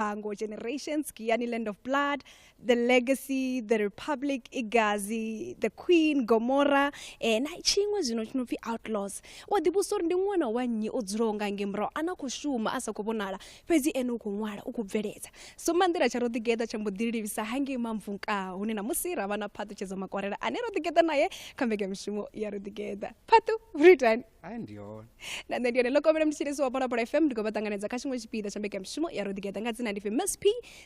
Bango Generations, Giyani Land of Blood, The Legacy, The Republic, Igazi, The Queen, Gomorrah, eh, na tshiṅwe zwino tshi no pfi Outlaws. U a ḓivhusa uri ndi ṅwana wa nnyi o dzulaho nga nge murahu a na khou shuma a sa khou vhonala fhedzi ene u khou ṅwala u khou bveledza so manḓila tsha ro ḓigeḓa tsha mbo ḓi livhisa hangei mamvunka hune na musi ra vha na phaṱutshedzo makwarela ane ro ḓigeḓa naye kha mbekanyamushumo ya ro ḓigeḓa phaṱu britain ai ndi hone na nṋe ndi yone lokomela mthetshelesi wa phalaphala fm ndi khou vha ṱanganedza kha tshiṅwe tshipiḓa tsha mbekanyamushumo ya roḓigeta nga dzina ndi pfi msp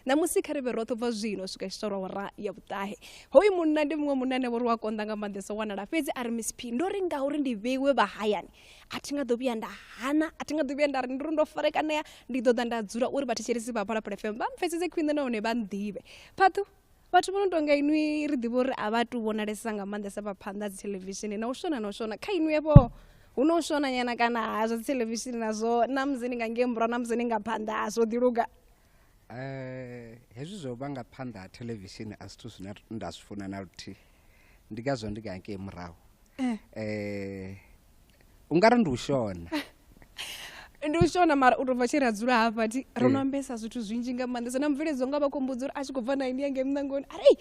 ṋamusi kha ri vhe roṱhe ubva zwino u swika tshitorwa wara ya vhuṱahe hoyu munna ndi muṅwe munna ane vho ri wa konḓa nga maanḓesa u wanala fhedzi a ri msp ndo ri ngauri ndi vheiwe vha hayani a thi nga ḓo vhuya nda hana a thi nga ḓo vhuya nda ri ndi ri ndo farekanea ndi ḓo ḓa nda dzula uri vhathetshelesi vha phalaphala fm vha mpfesese khwine nahone vha nḓivhe phaṱhu vhathu vho no tonga inwi ri ḓivha uri a vha tu vhonalesa nga maanḓesa vha phanḓa dzi theḽevishini na u shona na u shona kha inwi vho hu no u shona nyana kana ha zwa dzi theḽevishini nazwo na musi ni nga ngei murahu na musi ni nga phanḓa ha zwo ḓiluga eh, hezwi zwo vha nga phanḓa ha theḽevishini a zwithu zwine nda zwi funa na luthihi ndi ngazwo ndi nga ngei murahu um u nga ri ndi u shona ndi u shona mara u tou bva tshi ri a dzula hafha ti ro no eh. ambesa zwithu zwinzhi nga maanḓesa na mubveledzo nga vha khou mbudza uri a tshi khou bva na ini yange muṋangoni ari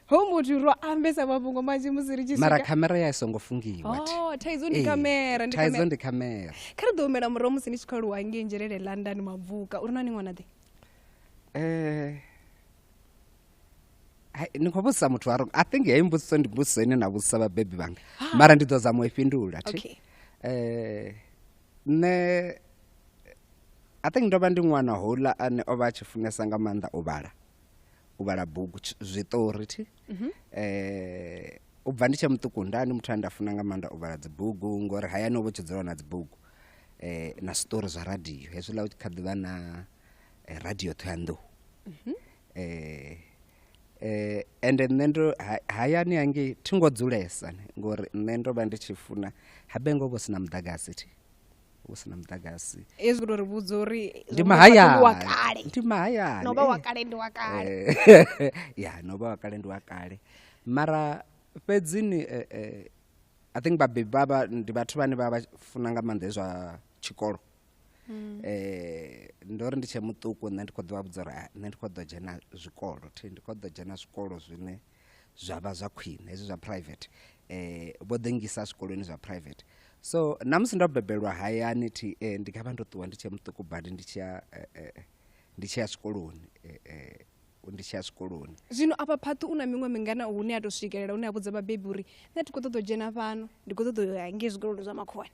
ho muthu ro ambesa mafhungo manzhi musi ri tshi mara khamera ya i songo fungiwa oh, thaidzo ndi khamera eh, thaidzo ndi khamera kha ri ḓo humela murahu musi ni tshi khou aluwa ngei nzhelele london mabvuka uri na ni ṅwana ḓe um eh, ni khou vhudzisa muthu wa i think heyi mbudziso ndi mbudziso ine na vhudzisa vhabebi vhanga ah. mara ndi ḓo zama u i fhindula thi okay. eh, nṋe i think ndo vha ndi ṅwana houḽa ane o vha a tshi funesa nga maanḓa u vhala u vhala bugu zwiṱori thi mm -hmm. eh, u bva ndi tshe muṱuku ndani muthu ane nda funa nga maanḓa u vhala dzibugu ngori hayani o vha tshi dzula na dzibugu eh, na zwiṱori zwa radio hezwiḽa u tshi kha ḓivha na eh, radio ṱhoyandou mm -hmm. eh, eh, ende nṋe ndo ha- hayani hangei thi ngo dzulesa ne, ngori nṋe ndo vha ndi tshi funa habe ngo vho sina muḓagasi thi vho sina muḓagasi hezwi uri vhudza uri ndi wa mahayani kale ndi mahayani no vha wa eh. kale ndi wa kale Eh, ya no vha wa kale ndi wa kale mara fhedzini eh, eh, i think vhabebi vha vha ndi vhathu vhane vha vha funa nga maanḓa hezwa tshikolo mm. eh ndo ri ndi tshe muṱuku nṋe ndi kho ḓo vha vhudza uri nṋe ndi kho ḓo dzhena zwikolo thi ndi kho ḓo dzhena zwikolo zwine zwa vha zwa khwine hezwi zwa private eh vho ḓi ngisa zwikoloni zwa private so na musi ndo bebelwa hayani thi eh, ndi nga vha ndo ṱuwa ndi tshe muṱuku badi ndi tshiya eh, eh, ndi tshiya zwikoloni eh, eh, ndi tshiya zwikoloni zwino afha phaṱhu u na miṅwe mingana hune a to swikelela hune a vhudza vhabebi uri nṋe thi kho ṱoḓa u dzhena fhano ndi kho ṱoḓa u ya ngei zwikoloni zwa makhuwani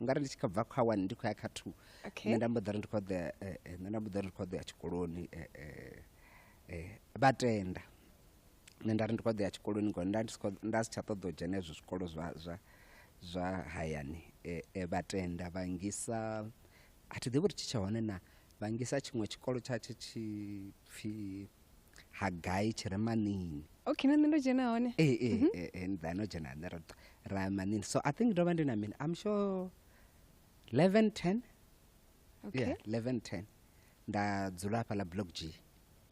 u nga ri ndi tshi kha bva kha one ndi khou ya kha two nṋe nda mbo ḓa ri ndi khou ḓea eh, eh, nṋe nda mbo ḓa ri ndi khou ḓea tshikoloni eh, vha tenda nṋe nda ri ndi khou ḓea tshikoloni ngori nda nda si tsha ṱoḓa u dzhena hezwo zwikolo zwa zwa zwa hayani vha tenda vha ngisa a thi ḓivhi uri tshi tsha hone na vhangisa tshiṅwe tshikolo tsha tshe tshi pfi hagai tshi re manini okay na nṋe ndo dzhena hone ee ee mhm. eh, eh, nda no dzhena hone ra manini so i think ndo vha ndi na mini i'm sure 11 10 okay. yeah, 11 10 nda dzula hafha ḽa block g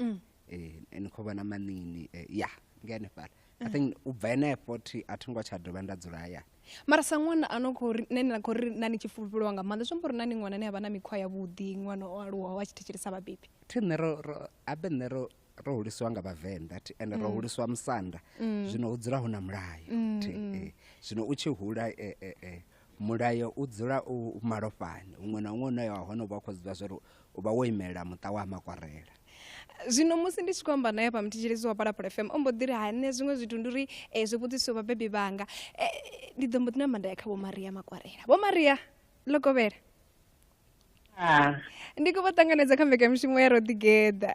mm. eh, ni khou vhona manini eh, ya nga henefhala i mm. think u bva henefho thi a tho ngo tsha dovha nda dzula hayani mara sa ṅwana a no khou ri nṋe na khou ri na ni tshi fulufheliwa nga maanḓa zwi amba uri na ni ṅwana ane a vha na mikhwa yavhuḓi ṅwana o aluwaho a tshi thetshelesa vhabebi thi nṋe ro ro- abe nṋe ro ro hulisiwa nga vhavenḓa thi ende ro hulisiwa musanda zwino hu dzula hu na mulayo thi eh. zwino u tshi hula eh, eh, eh, mulayo u dzula u u malofhani huṅwe na huṅwe une wa hone u vha u khou zwi ḓivha zwa uri u vha wo imelela muṱa wa makwarela zwino musi ndi tshi khou amba naye pamthetshelesi wa palapala fm o mbo ḓi ri ha nṋe zwiṅwe zwithu ndi uri um zwi vhudzisiwe vhabebi vhanga um ndi ḓo mbo ḓi namba nda ya kha vho maria makwarela vho maria ḽo kovhela ndi khou vha ṱanganedza kha mbekamishumo ya ro ḓigeḓa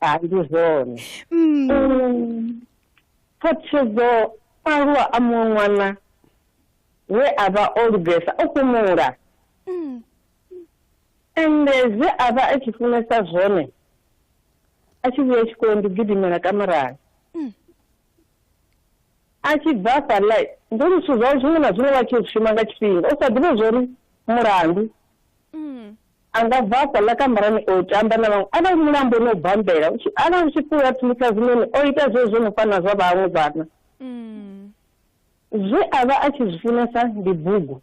hai ndi zwone Mm. Mm. phathedzo aluwa a muṅwe ṅwana we a vha o lugesa o fhumula Mm. ende zwe a vha a tshi funesa zwone a tshi vhuya tshikoloni ndi gidimela kamarani Mm. a tshi bva fhaḽa ndi uri zwithu zwawe zwiṅwe na zwiṅwe vha tshi zwi shuma nga tshifhinga u sa ḓivhe zwo ri mulandu Mm. A nga bva afho a ḽa kamarani o tamba na vhaṅwe. Arali mulambo no u bambela, arali u tshi pfi u a thulisa zwiṋoni, o ita zwezwo zwo no fana na zwa vhaṅwe vhana. Zwe a vha a tshi zwi funesa ndi bugu.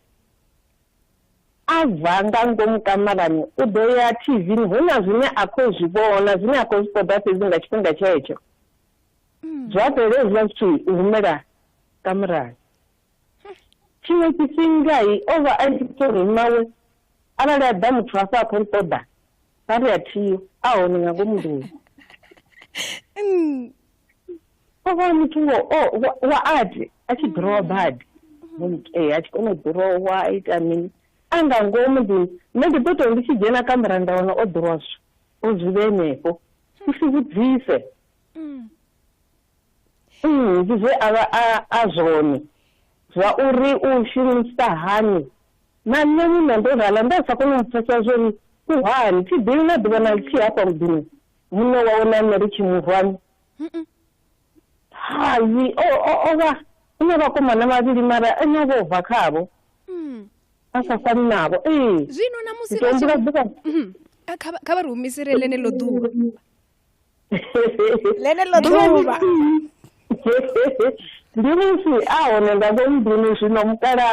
A bva nga ngomu kamarani, u ḓo ya TV-ni, hu na zwine a khou zwi vhona, zwine a khou zwi ṱoḓa fhedzi nga tshifhinga tshetsho. Zwa fhela hezwiḽa zwithu u humela kamarani. tshiṅwe tshifhinga o vha a tshi tou ri mawe arali a ḓa muthu hafha a khou nṱoḓa a ri a thiyo a hone nga ngomu nḓuni o vha muthu wo wa ati a tshi ḓurowa badi ee a tshi kona u ḓurowa a ita mini a nga ngomu nḓuni nṋe ndi ḓo tou ndi tshi dzhena kamera nda wana o ḓurowa zwi o zwi vhe henefho u si vhudzise mm. mm, ndi zwe a vha a zwone zwa uri u shumisa hani na nṋe muṋe ndo rala nda sa kone u pfesa zwori u hani thi ḓivhi na ḓuvha na lithihi hafha muḓini muṋe wawe na nṋe ri tshi murwani hayi o vha u na vhakomana vhavhili mara ene o vha u bva khavho mm. a sa fani navho ee zwino na musi ḓuvha kha vha ri humisele ḽeneḽo ḓuvha ḽeneḽo ḓuvha ndi musi a hone nga vho nḓuni zwino mukala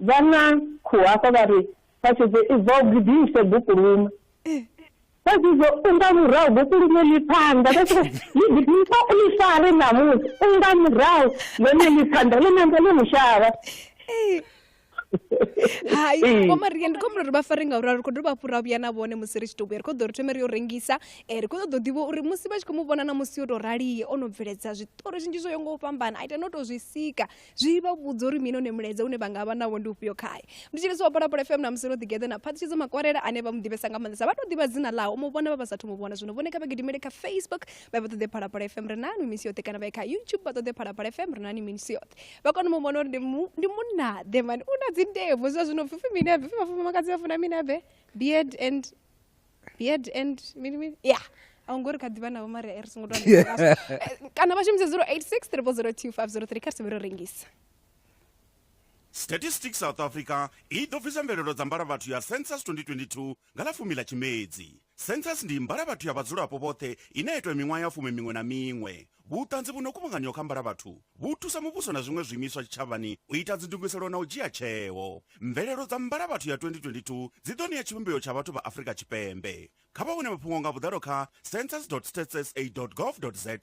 vha na khuhu hafha vha ri phasedze i bva u gidise bukulume phasedze u nga murahu bukulume ḽi phanḓa vha tshi ḽi gidisa u ḽi fare ṋamusi u nga murahu ḽone ḽi phanḓa ḽi namba ḽi mushavha hai Ee. ngoma ri ndi khombela uri vha fare ngauri a ri khou dovha hafhu ra vhuya na vhone musi ri tshi tou vhuya ri khou ḓo ri thome ri yo rengisa um ri khou ṱoḓa u ḓivha uri musi vha tshi khou mu vhona na musi yo tou raliye o no bveledza zwiṱori zwinzhi zwo yo ngo u fhambana a ita no tou zwi sika zwi vha vhudza uri mini one mulaedza une vha nga vha nawo ndi ufhio khae ndi tshi lisi wa phalaphala fm na musi ro ḓigeḓa na phaṱhutshedzo makwarela ane vha mu ḓivhesa nga maanḓesa vha tou ḓivha dzina ḽaho mu vhona vha vha sathu mu vhona zwino vhone kha vha gidimele kha facebook vha vha ṱoḓe phalaphala fm ri nani misi yoṱhe kana vha kha youtube vha ṱoḓe phalaphala fm ri nani misi yoṱhe vha kone mu vhona uri ndi munnaḓe mani u na dzindevu zwa zwino pfipfi mini abe pfi vhafumakadzi vha funa mini abe beard and beard and mini mini ya yeah. a hu ngo ri kha ḓivha navho mari ri songo to kana vha shumise 086 302 kha ri sevhe ro rengisa statistics south africa i ḓo bvisa mvelelo dza mbalavhathu ya census 2022 Nga ḽa fumi ḽa Tshimedzi, Census ndi mbalavhathu ya vhadzulapo vhoṱhe ine ya itwa miṅwaha ya fumi miṅwe na miṅwe. Vhuṱanzi vhu no kuvhanganyiwa kha mbalavhathu vhu thusa muvhuso na zwiṅwe zwiimiswa tshitshavhani u ita dzindugiselo na u dzhia tsheo. Mvelelo dza mbalavhathu ya 2022 dzi ḓo ṋea tshivhumbeo tsha vhathu vha Afrika Tshipembe. Kha vha wane mafhungo nga vhuḓalo kha. census.statssa.gov.za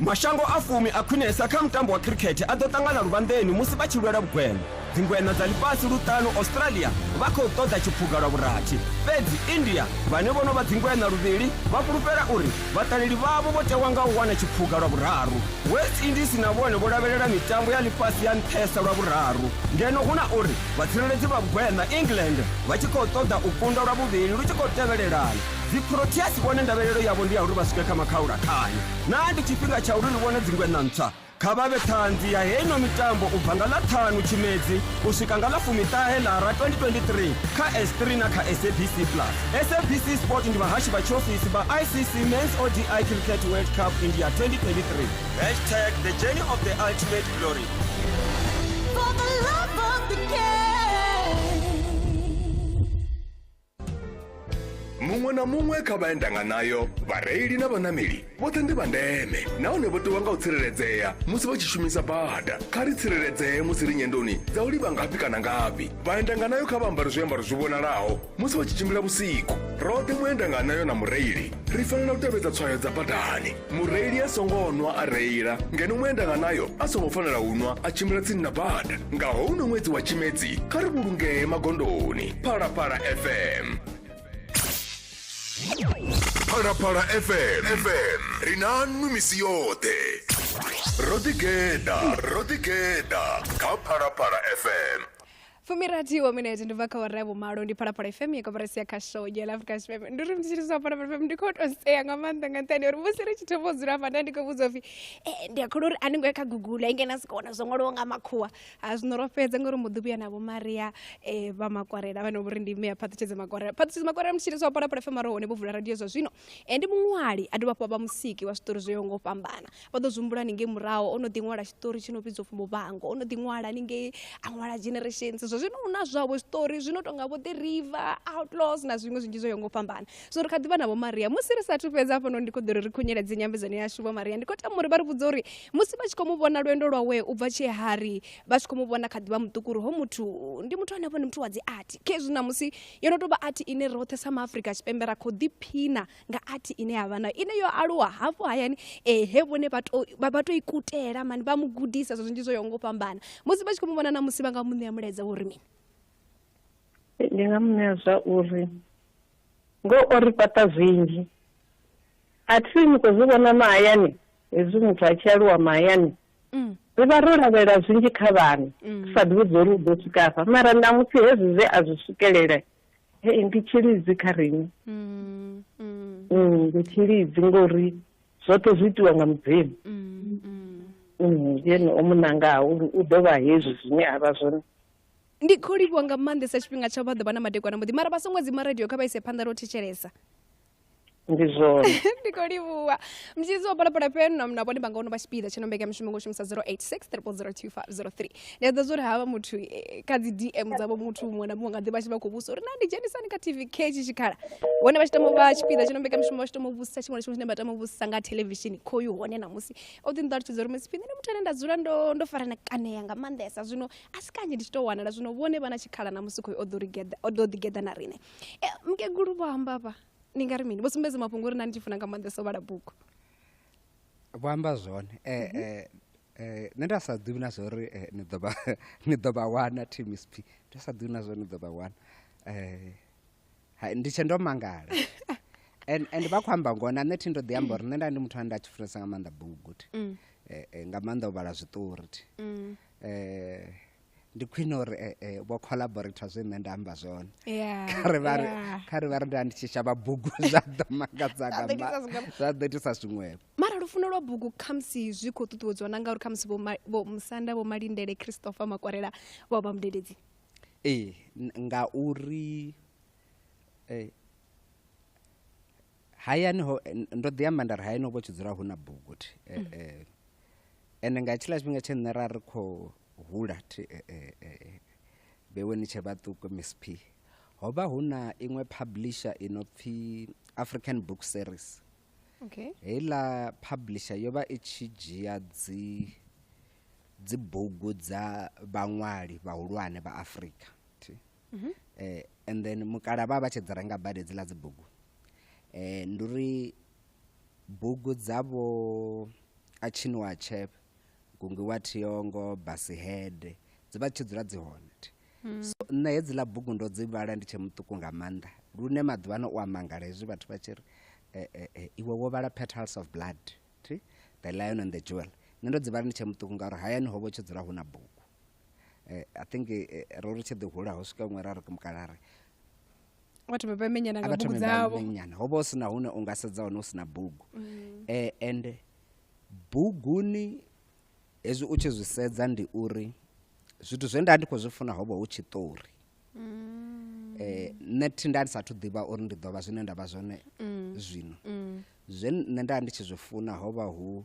mashango a fumi a khwinesa kha mutambo wa khirikhethe a ḓo ṱangana luvhanḓeni musi vha tshi lwela vhugwena dzingweṋa dza ḽifhasi luṱanu australia vha khou ṱoḓa tshiphuga lwa vhurathi fhedzi india vhane vho no vha dzingweṋa luvhili vha fhulufhela uri vhaṱaleli vhavho vho tewa nga u wana tshiphuga lwa vhuraru west indies na vhone vho lavhelela mitambo ya ḽifhasi ya nṱhesa lwa vhuraru ngeno hu na uri Vhatsireledzi vha Vhugweṋa na England vha tshi khou ṱoḓa u kunda lwa vhuvhili lu tshi khou tevhelelana. Dziproteas vhone ndavhelelo yavho ndi ya uri vha swike kha makhaulakhane. Naa ndi tshifhinga tsha uri ri vhone dzingweṋa ntswa? Kha vha vhe ṱhanzi ya heyi no mitambo u bva nga ḽa ṱhanu Tshimedzi u swika nga ḽa fumiṱahe Lara 2023 kha S3 na kha SABC Plus. SABC Sport ndi vhahashi vha tshiofisi vha ICC Men's ODI Cricket World Cup India 2023. Hashtag The Journey of the Ultimate Glory. For the love of the muṅwe na muṅwe kha vha endanga nayo vhareili na vhanameli vhoṱhe ndi vha ndeme nahone vho tiwa nga u tsireledzea musi vha tshi shumisa bada kha ri tsireledzee musi ri nyendoni dza u livha ngafhi kana ngafhi vhaendanga nayo kha vha ambare zwiambaro zwi vhonalaho musi vha tshi tshimbila vhusiku roṱhe muendanga nayo na mureili ri fanela u tevhedza tswayo dza badani mureili a songo nwa a reila ngeno muendanga nayo a songo fanela u nwa a tshimbila tsini na bada nga houno ṅwedzi wa tshimedzi kha ri vhulungee magondoni phalaphala fm phalaphala fm fm ri na nwi misi yoṱhe ro ḓigeḓa ro ḓigeḓa kha phalaphala fm fumirathi wa minete ndi bva kha ora ya vhumalo ndi phalaphala fm ya koporasi ya kha show ya lafrica fm ndi uri mutshitshisi wa phalaphala fm ndi khou tou sea nga maanḓa nga nṱhani uri musi ri tshi thoma u dzula hafha nda ndi khou vhudza upfi e ndi a kholwa uri a ni ngo ya kha google a ingena si khou wana zwo ṅwaliwo nga makhuwa a zwino ro fhedza ngori mbo ḓi vhuya na vho maria um vha makwarela vhane vhori ndi mme ya phaṱhutshedzo makwarela phaṱhutshedzo makwarela mutshitshisi wa phalaphala fm a ro hone vho vula radio zwa zwino Ene muṅwali a dovha hafhu a vha musiki wa zwiṱori zwo yaho nga u fhambana vha ḓo zwi humbula haningei muraho o no ḓi ṅwala tshiṱori tshi no vhidzwa upfhi muvhango o no ḓi ṅwala haningei a ṅwala generations zwa zwino huna zwavho zwiṱori zwi no tonga vho the river outlaws na zwiṅwe zwinzhi zwo yaho nga u fhambana so ri kha ḓivha na vho maria musi ri sathu fhedza hafha noni ndi kho ḓo ri ri khunyeledze nyambedzano yashu vho maria ndi khou tama uri vha ri vhudze uri musi vha tshi khou mu vhona lwendo lwawe u bva tshee hari vha tshi khou mu vhona kha ḓivha muṱuku uri ho muthu ndi muthu ane a vhone muthu wa dzi art khezwi na musi yo no tou vha athi ine roṱhe sa maafrika tshipembe ra khou ḓiphina nga athi ine ya vha nayo ine yo aluwa hafhu hayani eh, he vhone vha tou ikutela mani vha mu gudisa zwo zwinzhi zwo yo ngo fhambana musi vha tshi khou mu vhona na musi vha nga mu ṋea mulaedza uri mini ndi nga mu ṋea zwa uri ngo o ri fhaṱa zwinzhi a thi ni khou zwi vhona mahayani hezwi muthu a tshi aluwa mahayani Mm. ri vha ro lavhelela zwinzhi kha vhana mm. sa ḓivhi dzo ri u ḓo swika afha mara ṋamusi hezwi zwe a zwi swikelele hei ndi tshilidzi kha riṋe mm, ndi tshilidzi ngori zwoṱhe zwi itiwa nga mudzimu yene o munangaho uri u ḓo vha hezwi zwine a vha zwone ndi khou livhuwa nga maanḓesa tshifhinga tsha vha ḓo vha na madekwana muḓi mara vha songo dzima radio kha vha ise phanḓa ro thetshelesa ndi zona ndiko livhuwa mtshidzi wa phalaphala fm na mna vhone vha nga ono vha tshipiḓa tsho no mbekanya mushumo ngo shumisa 0863002503 ndi ḓa zwo ri havha muthu eh, kha dzi dm dzavho muthu muṅwe na muṅwe nga ḓi vha tshi vha khou vhusa uri na ndi dzhenisani kha tv k tshi tshikhala vhone vha tshi tama u vha tshipiḓa tsho no mbekanya mushumo vha tshi tama u vhusa tshiṅwe na tshiṅwe tshine vha tama u vhusa nga thelevishini khoyu hone namusi o ḓi nṱalutshedza uri musi phinḓa ndi muthu ane nda dzula ndo ndo farana kanea nga maanḓesa zwino a si kanzhi ndi tshi tou wanala zwino vhone vha na tshikhala namusi khoyu o ḓo ri geḓa- o ḓo ḓi geḓa na riṋe Eh, mukegulu vho amba vha ni nga ri mini vho sumbedza mafhungo uri na ni tshi funa nga maanḓesa u vhala bugu vho amba zwone eh, mhm. eh, eh, nṋe nda sa ḓivhi na zwa uri eh, ni ḓo vha ni ḓo vha wana tmsp nda sa ḓivhi na zwa uri ni ḓo vha wana eh, hai, ndi tshe ndo mangala and and vha khou amba ngona nṋe thi ndo ḓi amba uri nṋe nda ndi muthu ane nda tshi funesa nga maanḓa bugu thi mm. eh, eh, nga maanḓa u vhala zwiṱori thi mm. eh, ndi khwine uri eh, eh, vho collaborator zwe nṋe nda amba zwone kha ri vha ri nda ndi tshi shavha bugu zwa ḓo makadzanga zwa ḓo itisa zwiṅwevho mara lufuno lwa bugu khamusi zwi khou ṱuṱuwedziwa na ngauri khamusi vho musanda vho malindele christopher makwarela vha vha mudededzi ee ngauri eh, hayani ho eh, ndo ḓi amba nda ri hayani ho vho tshi dzula hu na bugu thi eh, eh. ende nga tshiḽa tshifhinga tshe nṋe ra ri khou hula thi eh, eh, eh, vhewe ni tshe vhaṱuku miss p ho vha hu na iṅwe publisher i no pfi african book series okay heiḽa publisher yo vha i tshi dzhia dzi dzibugu dza vhaṅwali vhahulwane vha afrika thi mhm. eh, and then mukala vha vha tshi dzi renga badi dzi ḽa dzi bugu eh, ndi uri bugu dzavho a tshiniwa tshep gungiwa thiongo basihede dzi vha tshi dzula dzi hone hmm. so nṋe hedzi ḽa bugu ndo dzi vhala ndi tshe muṱuku nga maanḓa lune maḓuvha no u amangala hezwi vhathu vha tshi ri eh, eh, eh, iwe wo vhala petals of blood the lion and the jewel nṋe ndo dzi vhala ndi tshe muṱuku ngauri hayani ho vha tshi dzula hu na bugu eh, i think eh, ro ri tshi ḓi hula ho swika ṅwe ra ri mukala ri vha thome vha menyana nga bugu dzavho menyana ho vha hu si na hune u nga sedza hone hu si na bugu mm. eh, and buguni hezwi u tshi zwi sedza ndi uri zwithu zwe nda ndi khou zwi funa ho vha hu tshiṱori mm. eh, nṋe thi nda ndi sathu ḓivha uri ndi ḓo vha zwine nda vha zwone mm. zwino zwe nṋe nda ndi tshi zwi funa ho vha hu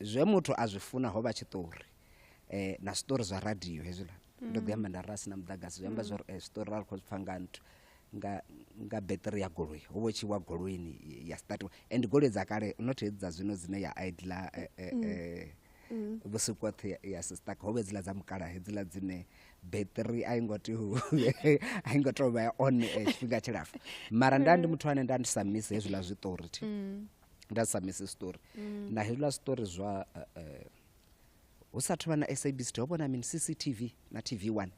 zwe muthu a zwi funa ho vha tshiṱori um na zwiṱori zwa radio hezwiḽa ndo ḓi amba nda ra si na muḓagasi zwi amba zwori zwiṱori ra ri khou zwi pfha nga nthu nga nga beṱiri ya goloi ho vha tshi wa goloini ya statiwa and goloi dza kale not hedzi dza zwino dzine ya idla vhusiku hoṱhe ya sistaka ho vha hedziḽa dza mukala hedziḽa dzine beṱiri a i ngo tea a i ngo tea u vha ya on tshifhinga tshilapfu mara nda ndi muthu ane nda ndi sa misi hezwiḽa zwiṱori thi nda sa misi story mm. na hezwiḽa story zwa uh, uh, hu sa thuvha na sabc ho vhona mini cctv na tv one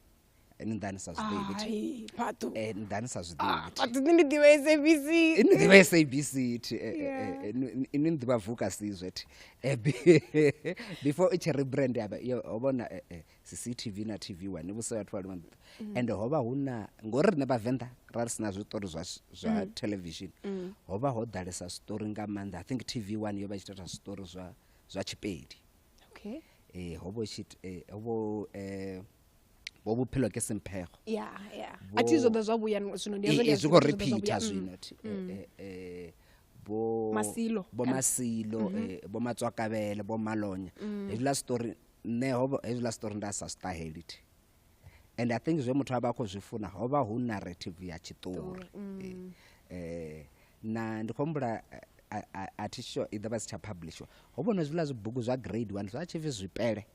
ni ḓa ni sa zwiḓivhi eh, ni ḓa ni sa zwiḓivhi ni ḓivha sabc ni ḓivha sabc thi ni ḓivha vuka sizwe thi before i tshi rebrand yo vhona cctv na tv wa ni vhuse vhathu vha lino ḓa mm. and ho vha hu na ngori riṋe vhavenḓa ra ri sina zwiṱori zwa, zwa mm. television mm. ho vha ho ḓalesa zwiṱori nga maanḓa i think tv one yo vha i tshi ita zwiṱori zwa, zwa tshipedi okay. eh, ho vha tshi eh, ho vha eh, bo bophelo ke semphego yeah, yeah. Bo, athi zwo ḓa zwa vhuya zwino ndi eh, eh, zwi khou repeata mm, zwino mm. eh, eh, bo masilo bo masilo mm -hmm. eh, bo matswakabele bo malonya mm. hezwiḽa story nṋe hovha hezwiḽa story nda sa zwi ṱaheli thi and i think zwe muthu a vha a khou zwi funa ho vha hu narrative ya tshiṱori um na ndi khou humbula a thi sure i ḓo vha si tsha publishwa ho vhona zwiḽa zwibugu zwa grade one zwa tshi pfi zwipele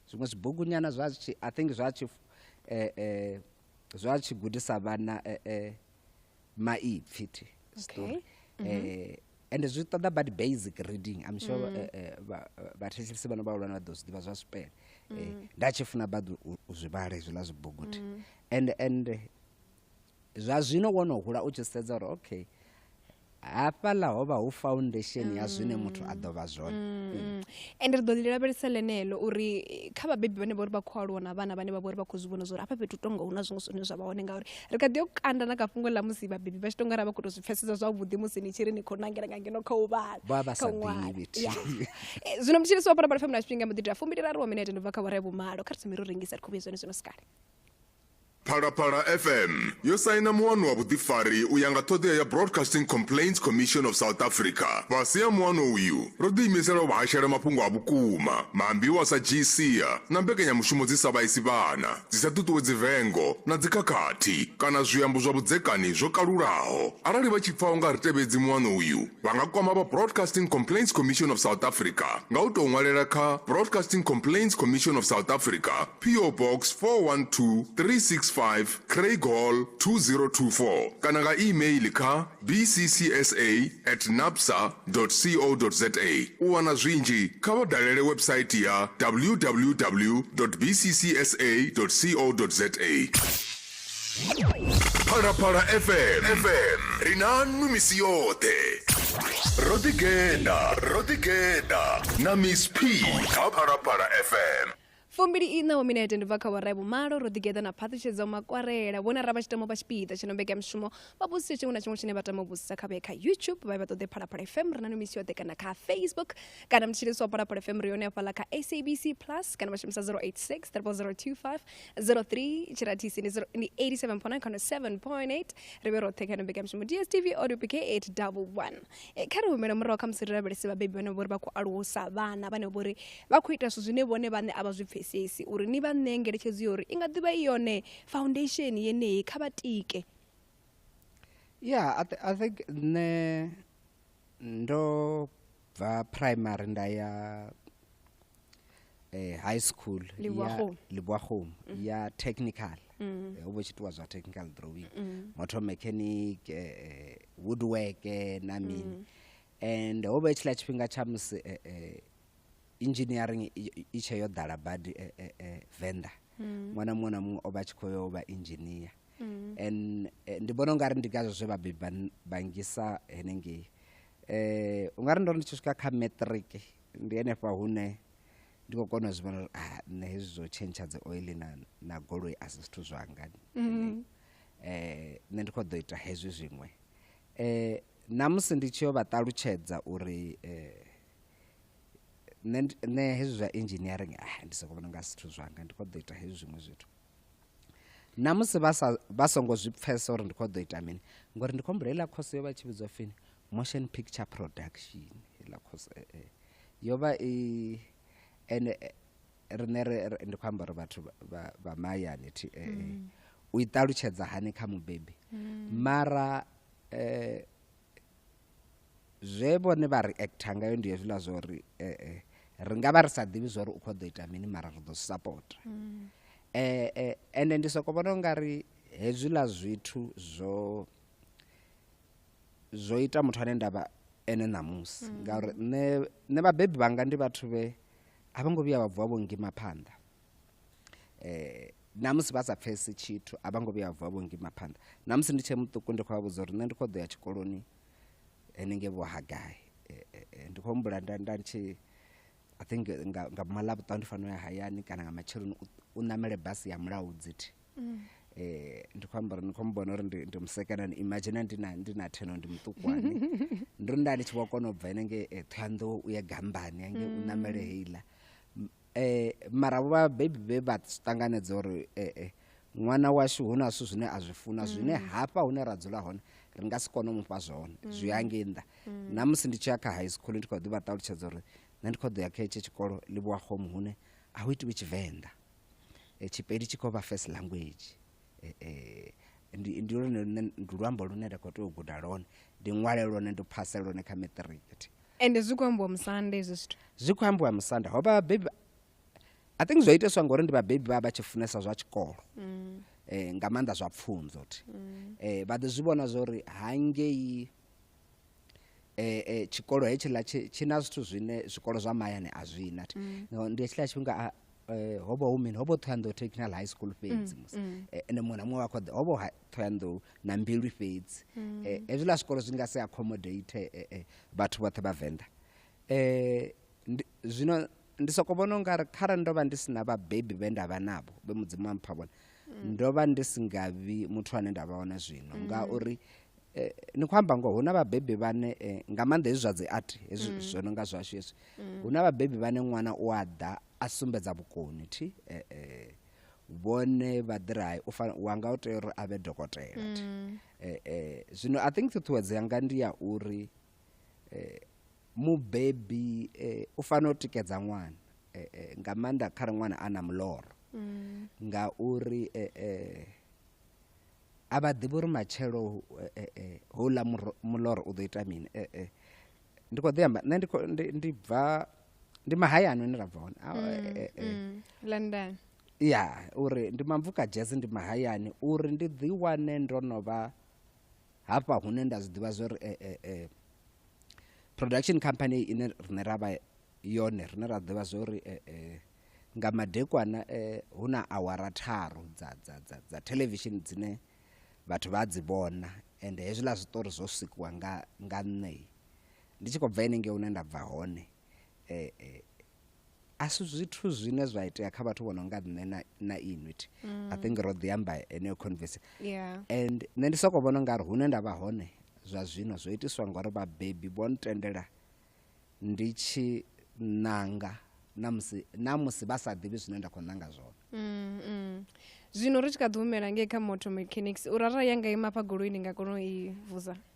zwiṅwe zwibugu nyana zwa tshi i think zwa tshi zwa tshi gudisa vhana maipfi thi story okay. mm -hmm. eh, and zwi ṱoḓa bad basic reading i'm sure mm. eh, eh, vhathetshelisi vhano vhahulwane vha ḓo zwi ḓivha zwa zwipele mm. eh, nda tshi funa bad u zwi vhala hezwiḽa zwibuguthi mm. and and zwa zwino wo no hula u tshi sedza uri okay hafhaḽa ho vha hu foundation ya zwine muthu a ḓo vha zwone ende mm. ri ḓo ḽi lavhelesa ḽeneḽo uri kha vhabebi vhane vha uri vha khou aluwa na vhana vhane vha vha uri vha khou zwi vhona zwa uri hafha fhethu tonga hu na zwiṅwe zwine zwa vha hone ngauri ri kha ḓi yo kanda na kha fhungo ḽa musi vhabebi vha tshi tonga ra vha khou tou zwi pfhesesa zwavhuḓi musi ni tshi ri ni khou nangela nga ngeno kha u vhala Vha vha kha sa u ṅwala. ḓivhi thi. Ya. Eh, zwino mutshilisi wa parabala fm na tshifhinga mbo ḓi tea fumbiliraru wa minete ndi bva kha vhora ya vhumalo kha ri thome ro rengisa ri khou vhuya zwone zwino sikale Phalaphala FM yo saina muano wa vhuḓifari u ya nga ṱhoḓea ya Broadcasting Complaints Commission of South Africa. Fhasi ha muano uyu, ro ḓiimisela u vha hashela mafhungo a vhukuma, maambiwa sa GCA na mbekanyamushumo dzi sa vhaisi vhana. dzi sa ṱuṱuwedzi vengo na dzikhakhathi kana zwiambo zwa vhudzekani zwo kalulaho. Arali vha tshi pfa u nga ri tevhedzi muano uyu, vha nga kwama vha Broadcasting Complaints Commission of South Africa nga u tou ṅwalela kha Broadcasting Complaints Commission of South Africa, PO Box 412365 Craig Hall 2024 kana nga e-mail kha bccsa at napsa co za. U wana zwinzhi, kha vha dalele website ya www bccsa co za. Phalaphala FM FM ri na nnu misi yoṱhe. Ro ḓi gena, ro ḓi gena na Miss P kha Phalaphala FM. fumbili iṋa wa minete ndi bva kha vhorae vhumalo ro ḓigeḓa na phaṱhutshedzo makwarela vhona ra vha tshi tama vha tshipiḓa tshi no mbekanyamushumo vha vhudzise tshiṅwe na tshiṅwe tshine vha tama u vhudzisa kha vhee kha youtube vha ye vha ṱoḓe phalaphala fm ri na no misi yoṱhe kana kha facebook kana mutshilisi wa phalaphala fm ri yone hafhaḽa kha sabc plus kana vha shumisa 086 025 03 tshirathisi ndi 87 pona khano 7 point 8 ri vhe roṱhe kha no mbekanyamushumo dstv audio pk 8 double 1 Eh, kha ri humele murahu kha musi ri lavhelese vhabebi vhane vhori vha khou alusa vhana vhane vhori vha khou ita zwithu zwine vhone vhane a vha zwi pfesesi uri ni vha ṋee ngeletshedzo ya uri i nga ḓivha i yone foundation yeneyi kha vha tike ya i, th I think nṋe ndo bva primary nda ya eh, high school Leboagomo. ya leboagomo ya technical Mm. Eh, o bo tshi itiwa zwa technical drawing Mm. motor mechanic eh, eh, woodwork eh, na mini and ho vha i tshiḽa tshifhinga tsha musi eh, eh, engineering i- i- i tshe yo ḓala badi eh, eh, eh, venda Mm. ṅwana muṅwe na muṅwe o vha tshi khou yo vha engineer Mm. and eh, ndi vhona ungari ndi ngazwo zwe vhabebi vha n- vha ngisa henengei um ungari ndo ri ndi tshi swika kha matric ndi henefha hune ndi khou kona u zwi vhona uri ah, nṋe hezwi zwo tshentsha dzi oil na, na goloi a si zwithu zwanga mm. eh, nṋe ndi khou ḓo ita hezwi zwiṅwe eh, namusi ndi tshi yo vha ṱalutshedza uri eh, nṋe hezwi zwa engineering ah, ndi soko vhona nga zwithu zwanga ndi khou ḓo ita hezwi zwiṅwe zwithu namusi vha songo zwi pfesa uri ndi khou ḓo ita mini ngori ndi khou mbulela khoso yo vha tshi vhidzwa fini motion picture production heiḽa course eh, eh. yo vha i ene eh, rine ndi khou amba uri vhathu vha mahayani thi eh, eh. Mm. u i ṱalutshedza hani kha mubebi mm. mara eh, zwe vhone vha ri acta ngayo ndi hezwiḽa zwa uri eh, eh, ri nga vha ri sa ḓivhi zwa uri u khou ḓo ita mini mara ri ḓo supporta mm. eh, eh, ende ndi soko vhona u nga ri hezwiḽa zwithu zwo zwo ita muthu ane ndavha ene ṋamusi mm. ngauri nṋe nṋe vhabebi vhanga ndi vhathu vhe a vho ngo vhuya vha vuwa vho ngima phanḓa eh namusi vha sa pfesi tshithu a vha ngo vhuya vha vuwa vho ngima phanḓa namusi ndi tshe muṱuku ndi khou vha vhudza uri nṋe ndi khou ḓo ya tshikoloni henenge vho hagai eh, eh, eh, ndi khou humbula nda nda ndi tshi i think nga, nga mala vhuṱaho ndi fanela ya hayani kana nga matsheloni u ṋamele basi ya mulaho dzithi mm. eh ndi khou amba uri ni khou mbona uri ndi musekanani imagine ndi na ndi na theno ndi muṱukwane ndi ri nda ndi tshi vho kona u bva ene nge eh, thoyanḓowo u ye gambani ange u ṋamele mm. heiḽa eh mara vho vhabebi vhe vha ṱanganedza uri eh eh ṅwana washu hu na zwithu zwine a zwi funa zwine mm. hafha hune ra dzula hone ri nga si kone u mufha zwone mm. zwi ya ngei nnḓa mm. na musi ndi tshi ya kha high school ndi khou ḓi vha ṱalutshedza uri nṋe ndi khou ḓo ya kha etsho tshikolo ḽi vhuwa home hune a hu itiwi tshivenḓa eh, tshipedi tshi khou vha first language eh, eh, ndi lwone lune ndi luambo lune nda khou tea u guda lwone ndi ṅwale lwone ndi phase lwone kha matric ende zwi khou ambiwa musanda ezwi zwithu zwi khou ambiwa musanda ho vha vhabebi i think zwo iteswa ngori ndi vhabebi vha vha tshi funesa zwa tshikolo mm. eh, nga maanḓa zwa pfunzo ti mm. eh, vha ḓi zwi vhona zwa uri hangei eh, eh, tshikolo hetshiḽa tshi na zwithu zwine zwikolo zwa mahayani a zwi na ti mm. no, ndi hetshiḽa tshifhinga ah, eh, ho vha hu mini ho vha thoyandou technical high school fhedzi mm, musi mm. Eh, ende muṅwe na muṅwe wa kho ḓa ho vha thoyandou na mbilu fhedzi mm. eh, hezwiḽa zwikolo zwi nga si accommodate eh, eh, vhathu vhoṱhe vhavenḓa eh, zwino ndi soko vhona u nga ri kharali ndo vha ndi si na vhabebi vhe nda vha navho vhe mudzimu wa mpha vhone mm. ndo vha ndi si nga vhi muthu ane nda vha hone zwino mm. ngauri eh, ni khou amba ngoho hu na vhabebi vhane eh, nga maanḓa hezwi zwa dzi art hezwi mm. zwo no nga zwashu hezwi mm. hu na vhabebi vhane ṅwana u a ḓa a sumbedza vhukoni thi eh, eh, vhone vha ḓiri hai wa nga u tea uri a vhe dokotela thi mm. eh, eh, zwino i think ṱhuṱhuwedzo yanga ndi ya uri eh, mubebi eh, u fanela u tikedza ṅwana eh, eh, nga maanḓa kha re ṅwana a na muloro mm. nga uri eh, eh, a vha ḓivhi uri matshelo eh, eh, eh houḽa muloro u ḓo ita mini eh, eh. ndi khou ḓi amba nṋe ndi bva ndi mahayani une ra bva hone ah, mm, eh, eh, eh. Mm, london ya uri ndi mamvuka jazz ndi mahayani uri ndi ḓi wane ndo no vha hafha hune nda zwi ḓivha zwa uri eh, eh, eh, production company ine rine ra vha yone rine ra ḓivha zwa uri eh, eh, nga madekwana eh, hu na awara tharu dza, dza, dza, dza television dzine vhathu vha dzi vhona ende hezwiḽa zwiṱori zwo sikiwa nga, nga nṋei ndi tshi khou bva henenge hune nda bva hone eh, eh, a si zwithu zwine zwa itea kha vhathu vho no nga nṋe na, na inwi thi mm. i think ro ḓi amba heneyo converse yeah. and nṋe ndi soko vhona ungari hune nda vha hone zwa zwino zwo itiswa ngori vhabebi vho ntendela ndi tshi ṋanga na musi na musi vha sa ḓivhi zwine nda khou ṋanga zwone mm, mm. zwino ri tshi kha ḓi humela ngei kha motor mechanics u rara ya nga ima fha goloini nga kona u i vuza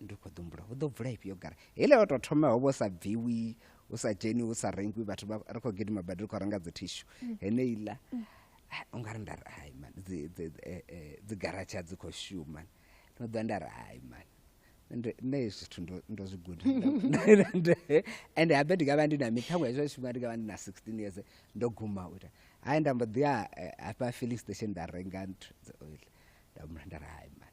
ndi khou ḓumbula hu ḓo bvula ifhio gara hele o tou thoma ho vho sa bviwi u sa dzheni u sa rengwi vhathu ri khou gidima badi ri khou renga dzi thishu mm. heneiḽa mm. u nga ri nda ri hai man eh, eh, dzi garatsha dzi khou shuma no ḓa nda ri hai man nṋe hezwi zwithu ndo zwi guda ende habe ndi nga vha ndi na mi ṱhaṅwe hezwo tshifhinga ndi nga vha ndi na sixteen years ndo guma u ita hai nda mbo ḓi ya eh, hafha filling station nda renga nthu dzi oil nda mula nda ri hai man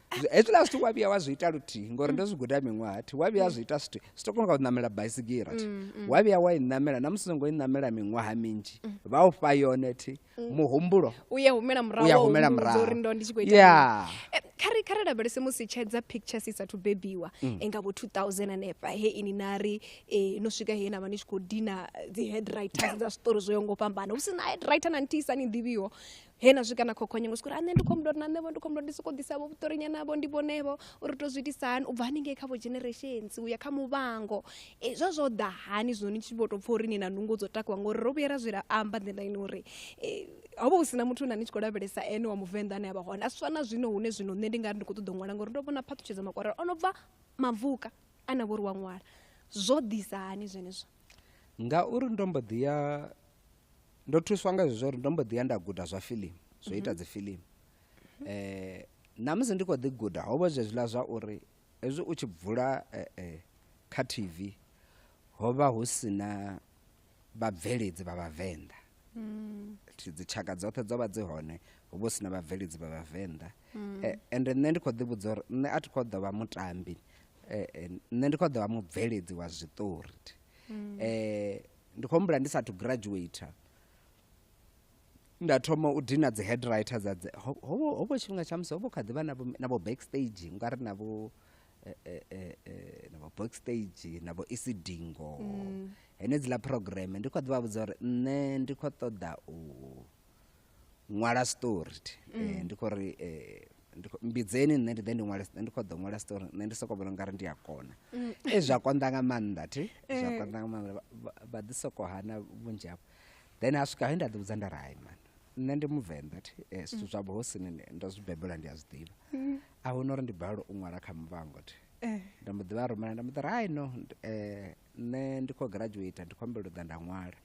hezwiḽa zwithu wa vhuya wa zwi ita luthihi ngori ndo zwi guda miṅwaha thi wa vhuya zwi ita zwithu zwi to kona nga u ṋamela baisigira thi mm, mm. wa vhuya wa i ṋamela na musi songo i ṋamela miṅwaha minzhi mm. vha u fha yone thi muhumbulo u ya humela murahouri ndo ndi tshi khou ita eh, khare khare lavhelese musi tshedza pictures i sathu bebiwa enga vho 2000 hanefha he ini na ri eh, no swika he na vha ni tshi khou dina dzi headwriters dza zwiṱori zwo yo ngo fhambana hu si na headwriter na ntisa ni ḓivhiho he na swika na khokhonye ngo swika uri nṋe ndi khou mlora na nṋevho ndi khou mlora ndi sokou ḓisavho vhuṱorinya navho ndi vhonevho uri to zwi itisa hani u bva haningei kha vho generations u ya kha muvhango e, zwa zwo ḓa hani zwino ni tshi vho tou pfha uri ni na nungo dzo takuwa ngori ro vhuya ra zwi amba nḓila ini uri e, ho vha hu sina muthu na ni tshi khou lavhelesa ene wa muvenḓa ane a vha hone a swa na zwino hune zwino nṋe ndi nga ri ndi khou ṱoḓa u ṅwala ngori ndo vhona phaṱhutshedzo makwarela o no bva mavuka a na vho ri wa ṅwala zwo ḓisa hani zwenezwo ngauri ndo mbo ḓi ya ndo thuswa nga zwezwo uri ndo mbo ḓi ya nda guda zwa filimu zwo ita mhm. dzi filimu um eh, namusi ndi khou ḓi guda ho vha zwezwiḽa zwa uri hezwi u tshi bvula eh, eh, kha tv ho vha hu si na vhabveledzi vha vhavenḓa mm. dzitshaka dzoṱhe dzo vha dzi hone ho vha hu si na vhabveledzi vha vhavenḓa mm. ende nṋe ndi khou ḓi vhudza uri nṋe a thi khou ḓo vha mutambi nṋe ndi khou ḓo vha mubveledzi wa zwiṱori um ndi khou humbula ndi sathu graduator nda thoma u dina dzi head writer dza dzi ho- ho- hovho tshifhinga tsha musi hovho kha ḓivha na vho- na vho backstage nga ri na vho eh, eh, eh, eh, na vho backstage na vho isidingo henedziḽa program ndi khou ḓivha vhudza uri nṋe ndi khou ṱoḓa u ṅwala story mm. eh, ndi khou ri eh, mbidzeni nṋe ndi ḓe ndi ṅwale ndi khou ḓo ṅwala story nṋe ndi sokou vhona ungari ndi a kona mm. e zwa konḓa nga maanḓa thi eh. zwa konḓa nga maanḓa vha ḓi sokou hana vhunzhi hafho then ha swika he nda ḓivhudza nda ri hai mani nṋe ndi muvenḓa thi eh, zwithu mm. zwa vhuhosini ndo zwi bebela ndi a zwi ḓivha mm. a hu no uri ndi balelwa u ṅwala kha muvhango thi eh. nda mbo ḓivha rumela nda mbo ḓi ri hai no um nṋe ndi khou graduate ndi khou humbela u ḓa nda ṅwala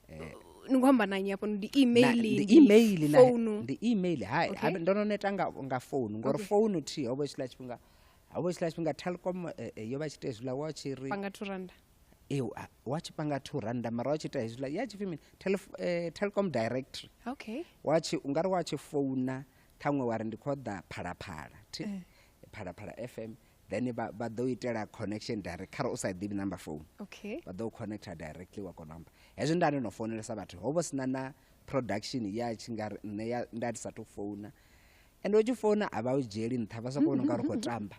eh, ni khou amba nanyi hafho ndi email ndi email na founu ndi email hai okay. ndo no neta nga nga founu ngori okay. founu thi ho vha tshila tshifhinga ho vha tshila tshifhinga Telkom eh, eh, yo vha tshite zwi la wa tshi ri panga 2 rand eh wa tshi panga 2 rand mara wa tshi ita zwi la ya tshi fimi eh, Telkom directory okay wa tshi ungari wa tshi founa thangwe wa ri ndi khoda phala phala thi eh. phala phala fm then vha vha ḓo itela connection direct khare u sa ḓivhi number phone okay vha ḓo connecta directly wa kona amba hezwi nda ndi no founelesa vhathu ho vho sina na production ya tshi nga ri nṋe ya nda ndi sa tou founa ende u tshi founa a vha u dzhieli nṱha vha sokou vhona u nga ri khou tamba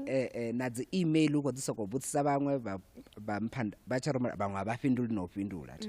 Eh, eh, na dzi email u khou dzi sokou vhudzisa vhaṅwe vha- vha mpha nda- vha tsha rumela vhaṅwe a vha fhinduli na u fhindula thi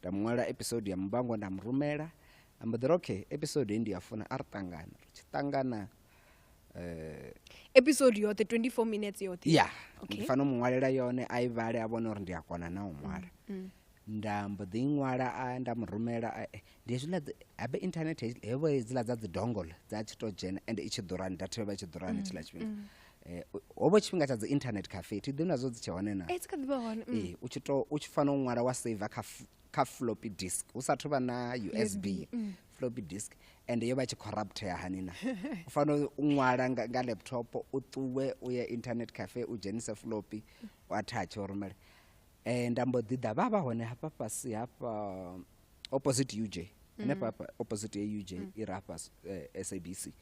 nda mu ṅwalela episode ya muvhango nda mu rumela a mbo ḓi ri okay episode hei ndi ya funa a ri ṱangana ri tshi ṱangana um episode yoṱhe 24 minutes yoṱhe ya Okay. ndi fanela u mu ṅwalela yone a i vhale a vhone uri ndi a kona na u ṅwala Mm. nda mbo ḓi i ṅwala a nda mu rumela a- eh, ndi hezwiḽa dzi- habe internet hezwi- hevho hedziḽa dza dzi dongol dza tshi to dzhena ende i tshi ḓurani data yo vha i tshi ḓurani tshiḽa tshifhinga eh, ho vha tshifhinga tsha dzi internet cafe thi ḓivhi nazwo dzi tshe hone na eh, dzi kha ḓi vha hone mm. eh, u tshi to u tshi fanela u ṅwala wa saver kha kha floppy disk hu sathu vha na usb mm. floppy disk and yo vha tshi corruptea hani na u fanela u ṅwala nga, nga laptop u ṱuwe u ye internet cafe u dzhenise floppy u athatshe u rumele um nda mbo ḓi ḓa vha vha hone hafha fhasi hafha opposite uj henefha mm. opposite ya uj mm. i rafha uh, eh, sabc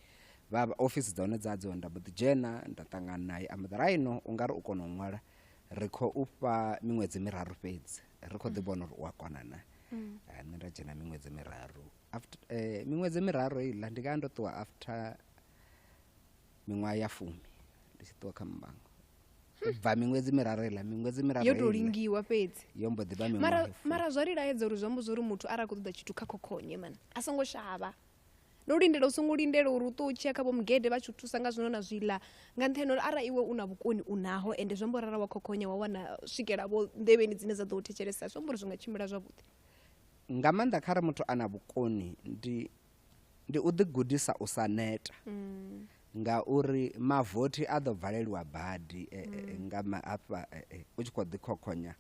vha ofisi dza hone dzadzo nda mbo ḓi dzhena nda ṱangana naye amudharaino u nga ri u kona u ṅwala ri khou u fha miṅwedzi miraru fhedzi ri khou ḓi mm. vhona uri u a kona na mm. eh, nṋe nda dzhena miṅwedzi miraru after eh, miṅwedzi miraru iḽa ndi nga ndo ṱuwa after miṅwaha ya fumi ndi tshi ṱuwa kha mbango bva miṅwedzi miraru iḽa miṅwedzi miraru yo tou lingiwa fhedzi yo mbo ḓi vha mara mara zwa ri laedza uri zwi amba zwa uri muthu arali a khou ṱoḓa tshithu kha khokhonye mani a songo shavha no lindela u songo lindela uri u ṱo u tshiya kha vho mugede vha tshi u thusa nga zwino na zwiḽa nga nṱhani uri arali iwe u na vhukoni u naho ende zwi amba uri arali wa khokhonya wa wana swikela vho nḓevheni dzine dza ḓo u thetshelesa zwi amba uri zwi nga tshimbila zwavhuḓi nga maanḓa kha re muthu a na vhukoni ndi Ndi u ḓigudisa u sa neta ngauri mavothi a ḓo valeliwa badi nga hafha u tshi khou ḓi khokhonya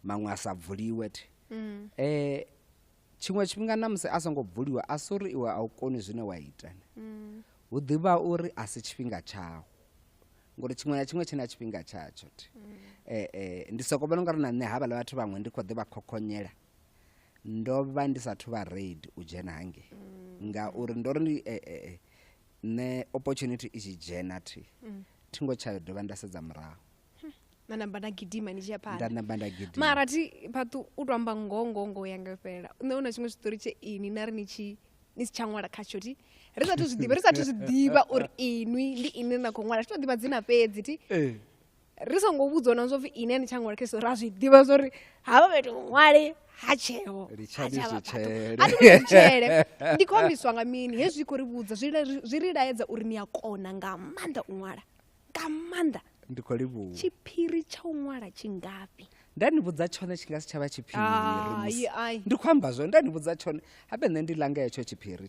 maṅwe a sa bvuliwe thi. Tshiṅwe tshifhinga na musi a songo bvuliwa a si uri iwe a u koni zwine wa ita, hu ḓi vha uri a si tshifhinga tshau ngori tshiṅwe na tshiṅwe tshi na tshifhinga tshatsho thi. Ndi sokou vhona u nga ri na nṋe havhaḽa vhathu vhaṅwe ndi khou ḓi vha khokhonyela. ndo vha ndi sathu vha raid u dzhena hange mm. ngauri ndo ri eh, eh, eh, nṋe opportunity i tshi dzhena thi mm. thi ngo tsha dovha nda sedza murahu hmm. na namba nda gidima ni tshi ya phanḓa nda namba nda gidima mara thi phaṱu u tou amba ngoho ngoho ngoho yanga fhelela nṋe u na tshiṅwe tshiṱori tshe ini na ri ni tshi ni si tsha ṅwala khatsho thi ri sathu zwi ḓivha ri sathu zwi ḓivha uri inwi ndi ini na khou ṅwala thi to ḓivha dzina fhedzi thi eh. ri songo vhudzwa na zwo pfi ini ani tsha ṅwala kha ri a zwi ḓivha zwo ri havha fhethu ṅwale ha tsheo atshele ndi khou ambiswa nga mini hezwi khou ri vhudza zwi ri laedza uri ni a kona nga maanḓa u ṅwala nga maanḓa ndi khou livhuwa tshiphiri tsha u ṅwala tshingafhi nda ni vhudza tshone tshi nga si tsha vha tshiphiri ndi khou amba zwone nda ni vhudza tshone habe nṋe ndi langa hetsho tshiphiri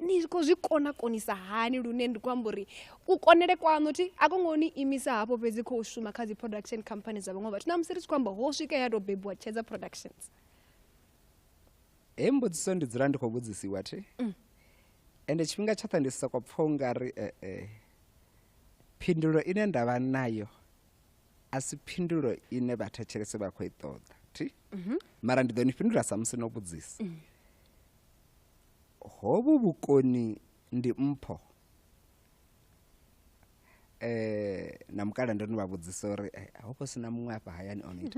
ni khou zwi kona konisa hani lune ndi khou amba uri u konele kwaṋu thi a ko ngo ni imisa hafho fhedzi khou shuma kha dzi production company dza vhaṅwe vhathu na musi ri tshi khou amba ho swika ya tou bebiwa tshedza productions he mbudziso ndi dzula ndi khou vhudzisiwa thi mm. ende tshifhinga tshoṱhe ndi soko pfha u nga ri ee eh, eh. phindulo ine nda vha nayo a si phindulo ine vhathetshelese vha khou i ṱoḓa thi mhm. mara ndi ḓo ni fhindula samusi no vhudzisa mm. hovhu vhukoni ndi mpho eh na mukala ndo no vha vhudzisa uri eh, ho vha sina muṅwe afha hayani on it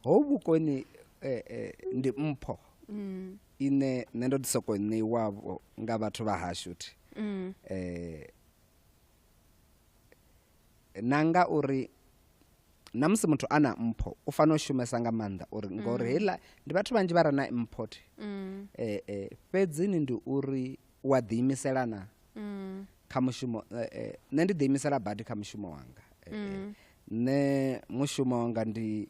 ho vhukoni eh, eh, ndi mpho mm. ine nṋe ndo ḓi soko ṋeiwavho nga vhathu vha hashu thi mm. eh, na nga uri na musi muthu a na mpho u fanela u shumesa nga maanḓa uri mm. ngori heiḽa ndi vhathu vhanzhi vha re na import mm. eh, eh, fhedzini ndi uri u a ḓiimisela na mm. kha mushumo eh, eh, nṋe ndi ḓiimisela badi kha mushumo wanga eh, eh. mm. nṋe mushumo wanga ndi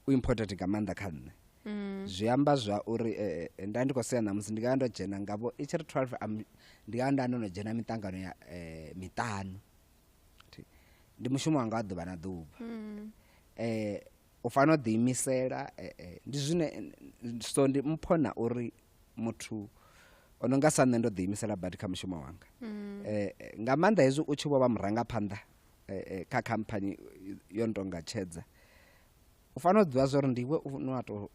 u important nga maanḓa kha nṋe Mm. zwi amba zwa uri eh, eh, nda ndi khou sea ṋamusi ndi nga ndo dzhena ngavho i tshi ri 12 ndi nga nda ndo no dzhena miṱangano ya eh, miṱanu ndi mushumo wanga wa ḓuvha na ḓuvha um u fanela u ḓiimisela eh, eh, ndi zwine so ndi mpho na uri muthu o no nga sa nṋe ndo ḓiimisela badi kha mushumo wanga um nga maanḓa hezwi u tshi vho vha murangaphanḓa eh, kha khamphani yo no tonga tshedza u fanela u ḓivha zwa uri ndiwe u no a to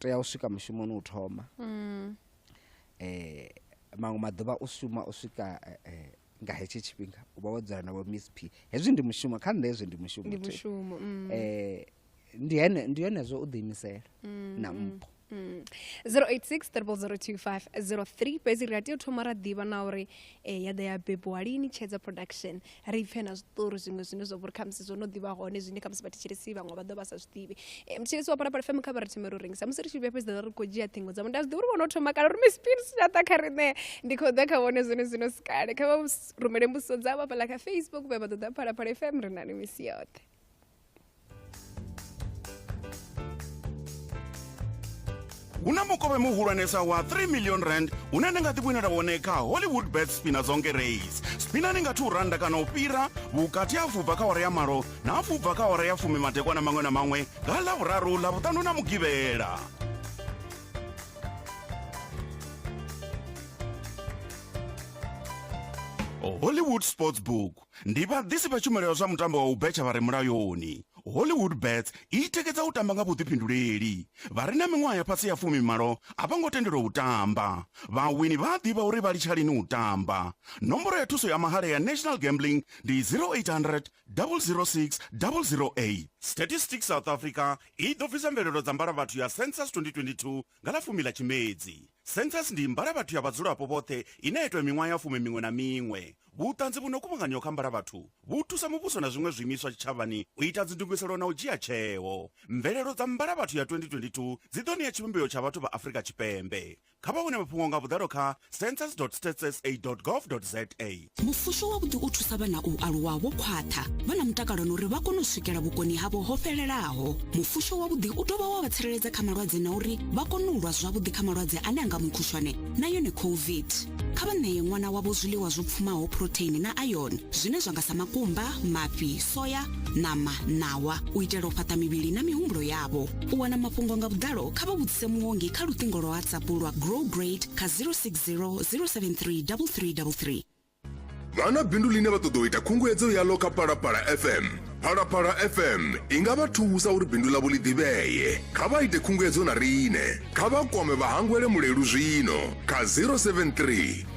tea u swika mushumoni u thoma um maṅwe maḓuvha u shuma u swika eh, eh, nga hetsho tshifhinga u vha wo dzula na vho miss p hezwi ndi mushumo kha nṋe hezwi ndi mushumo ndi thi. mushumo mm. Eh, ndi hene- ndi hone zwo u ḓiimisela na mpho Mm. 0860002503 fhedzi ri a tea u thoma ra ḓivha na uri eh, ya ḓa ya bebiwa lini tshedza production ri pfhe na zwiṱori zwiṅwe zwine zwa vhori khamusi zwo no ḓivha hone zwine khamusi vhathetshelesi vhaṅwe vha ḓo vha sa zwi ḓivhi tshilisi wa parapara fm kha vha ri themela u rengisa musi ri tshi vhuya fhedzi ḓa ri khou dzhia ṱhingo dza munda zwiḓi uri vhono thoma kana uri miss pins ya ḓa kha riṋe ndi khou ḓa kha vhone zwone zwino si kale kha vha rumele mbudziso dzavho hafhaḽa kha facebook vha vha ṱoḓa phalaphala fm ri na ni misi yoṱhe hu na mukovhe muhulwanesa wa 3 million rand une ni nga ḓivhonela wone kha hollywood bet spina zonke race spina ni nga 2 randa kana u fhira vhukati ha fubva kha hora ya malo na fubva kha hora ya fumi madekwana maṅwe na maṅwe nga ḽavhuraru ḽavhuṱanu na mugivhela hollywood sports book Ndi vhaḓisi vha tshumelo ya zwa mutambo wa u betsha vha re mulayoni. Hollywood Bets i tikedza u tamba nga vhuḓifhinduleli. Vha re na miṅwaha ya fhasi ya fumi malo a vho ngo tendelwa u tamba. Vhawini vha a ḓivha uri vha litsha lini u tamba. Nomboro ya thuso ya mahala ya National Gambling ndi 0800 006 008. Statistics South Africa i ḓo bvisa mvelelo dza mbalavhathu ya Census 2022 Nga ḽa fumi ḽa Tshimedzi, Census ndi mbalavhathu ya vhadzulapo vhoṱhe ine ya itwa miṅwaha ya fumi miṅwe na miṅwe. Vhuṱanzi vhu no kuvhanganyiwa kha mbalavhathu vhu thusa muvhuso na zwiṅwe zwiimiswa tshitshavhani u ita dzindugiselo na u dzhia tsheo. Mvelelo dza mbalavhathu ya 2022 dzi ḓo ṋea tshivhumbeo tsha vhathu vha Afrika Tshipembe. Kha vha wane mafhungo nga vhuḓalo kha. census.statssa.gov.za mufusho wavhuḓi u thusa vhana u aluwa vho khwaṱha vha na mutakalo na uri vha kone u swikela vhukoni havho ho fhelelaho mufusho wavhuḓi u dovha wa vha tsireledza kha malwadze na uri vha kone u lwa zwavhuḓi kha malwadze ane a nga mukhushwane na yone covid kha vha ṋeye ṅwana wavho zwiḽiwa zwo pfumaho phurotheini na iron zwine zwa nga sa makumba mafhi soya ṋama ṋawa u itela u fhaṱa mivhili na mihumbulo yavho u wana mafhungo nga vhuḓalo kha vha vhudzise muongi kha luṱingo lwa whatsapp lwa grow great kha 060 073 3333 vha na bindu ḽine vha ṱoḓa u ita khunguwedzo yaḽo kha phalaphala fm phalaphala fm i nga vha thusa uri bindu ḽavho ḽi ḓivhee kha vha ite khunguwedzo na riṋe kha vha kwame vhahangwele mulelu zwino kha 073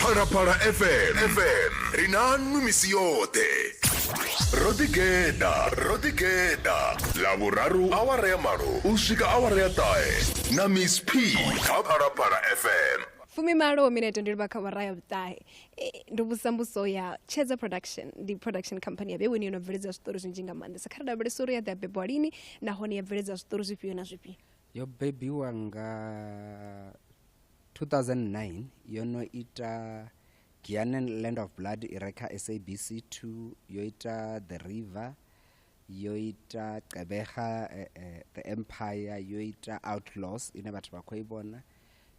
phalaphala fm fm ri nanu misi yoṱhe ro ḓigeḓa ro ḓigeḓa ḽavhuraru awara ya malo u swika awara ya ṱahe na miss p kha phalaphala fm fumimalo minete ndi livha kha awara ya vhuṱahe ndo vhusa mbuso ya tshedza production ndi production company ya vheweni yo no bveledza zwiṱori zwinzhi nga maanḓesa kha ri lavhelesa uri ya ḓi a bebwa lini nahone ya bveledza zwiṱori zwifhio na zwifhio yo bebiwa nga 2009 yo no ita Giyane Land of Blood i re kha SABC 2 yo ita The River yo ita Qebega uh, eh, uh, eh, The Empire yo ita Outlaws ine vhathu vha khou i vhona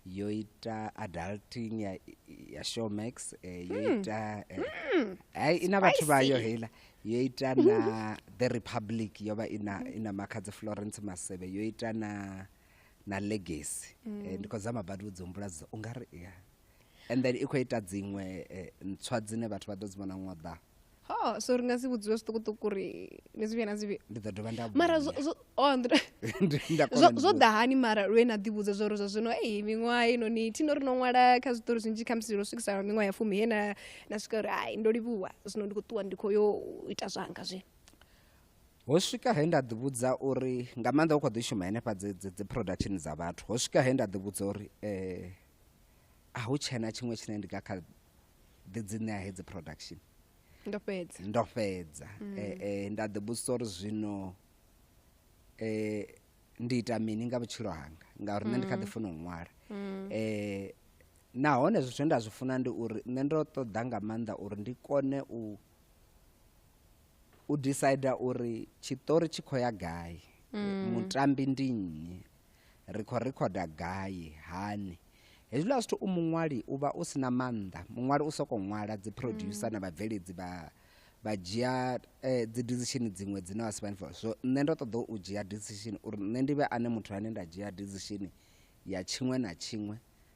yo ita adulting ya, ya showmax eh, yo hmm. ita eh, hmm. ai eh, ina vhathu vayo heila yo ita na the republic yo vha ina, ina makhadzi florence masebe yo ita na na legacy mm. eh, ndi khou zama badi vhudzi humbula zwo u nga ri ya and then i khou ita dziṅwe eh, ntswa dzine vhathu vha ḓo dzi vhona ṅwaḓa ho so ri nga si vhudziwe zwiṱukuṱuku ri ni zwi vhuya na zwi vhuya ndi ḓo dovha nda mara oh, zwo ḓa hani mara lwe na ḓivhudza zwo ri zwa zwino ei miṅwaha inoni thino ri no ṅwala kha zwiṱori zwinzhi kha musi ro swikisa miṅwaha ya fumi he na na swika uri hai ndo livhuwa zwino ndi khou ṱuwa ndi khou yo ita zwanga zwino ho swika he nda ḓivhudza uri nga maanḓa u khou ḓi shuma henefha dzi productini dza vhathu ho swika he nda ḓivhudza uri um a hu tshena tshiṅwe tshine ndi nga kha ḓi dzi ṋea hedzi production ndo fhedza ndo fhedza mm. eh, eh, nda ḓivhudzisa uri zwino um ndi ita mini nga vhutshilo hanga ngauri nṋe ndi kha ḓi mm. funa u ṅwala um nahone zwithu nda zwi funa ndi uri nṋe ndo ṱoḓa nga maanḓa uri ndi kone u u decider uri tshiṱori tshi khou ya gai mm. mutambi ndi nnyi ri khou rikhoda gai hani hezwiḽa zwithu u muṅwali u vha u si na maanḓa muṅwali u sokou ṅwala dzi producer mm. na vhabveledzi vha vha dzhia eh, dzi decision dziṅwe dzine vha si vhani so nṋe ndo ṱoḓa u dzhia decision uri nṋe ndi vhe ane muthu ane nda dzhia decision ya tshiṅwe na tshiṅwe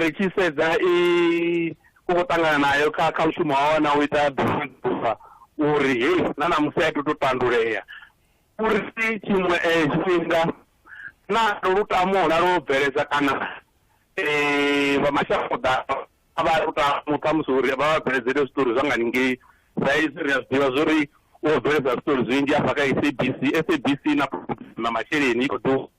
Ri tshi sedza i khou ṱangana nayo kha kha mushumo wawe na u ita ḓuvha uri hei na ṋamusi a i tou tandulea uri tshiṅwe eh, tshifhinga na lutamo na lwo bveledza kana eh, vha mashango ḓavha a vha lutamo khamusi uri vha vha bveledzele zwiṱori zwa nga ningei sa izwi ri a zwi ḓivha zwori u bveledza zwiṱori zwinzhi afha kha sabc sabc na na masheleni i khou ḓu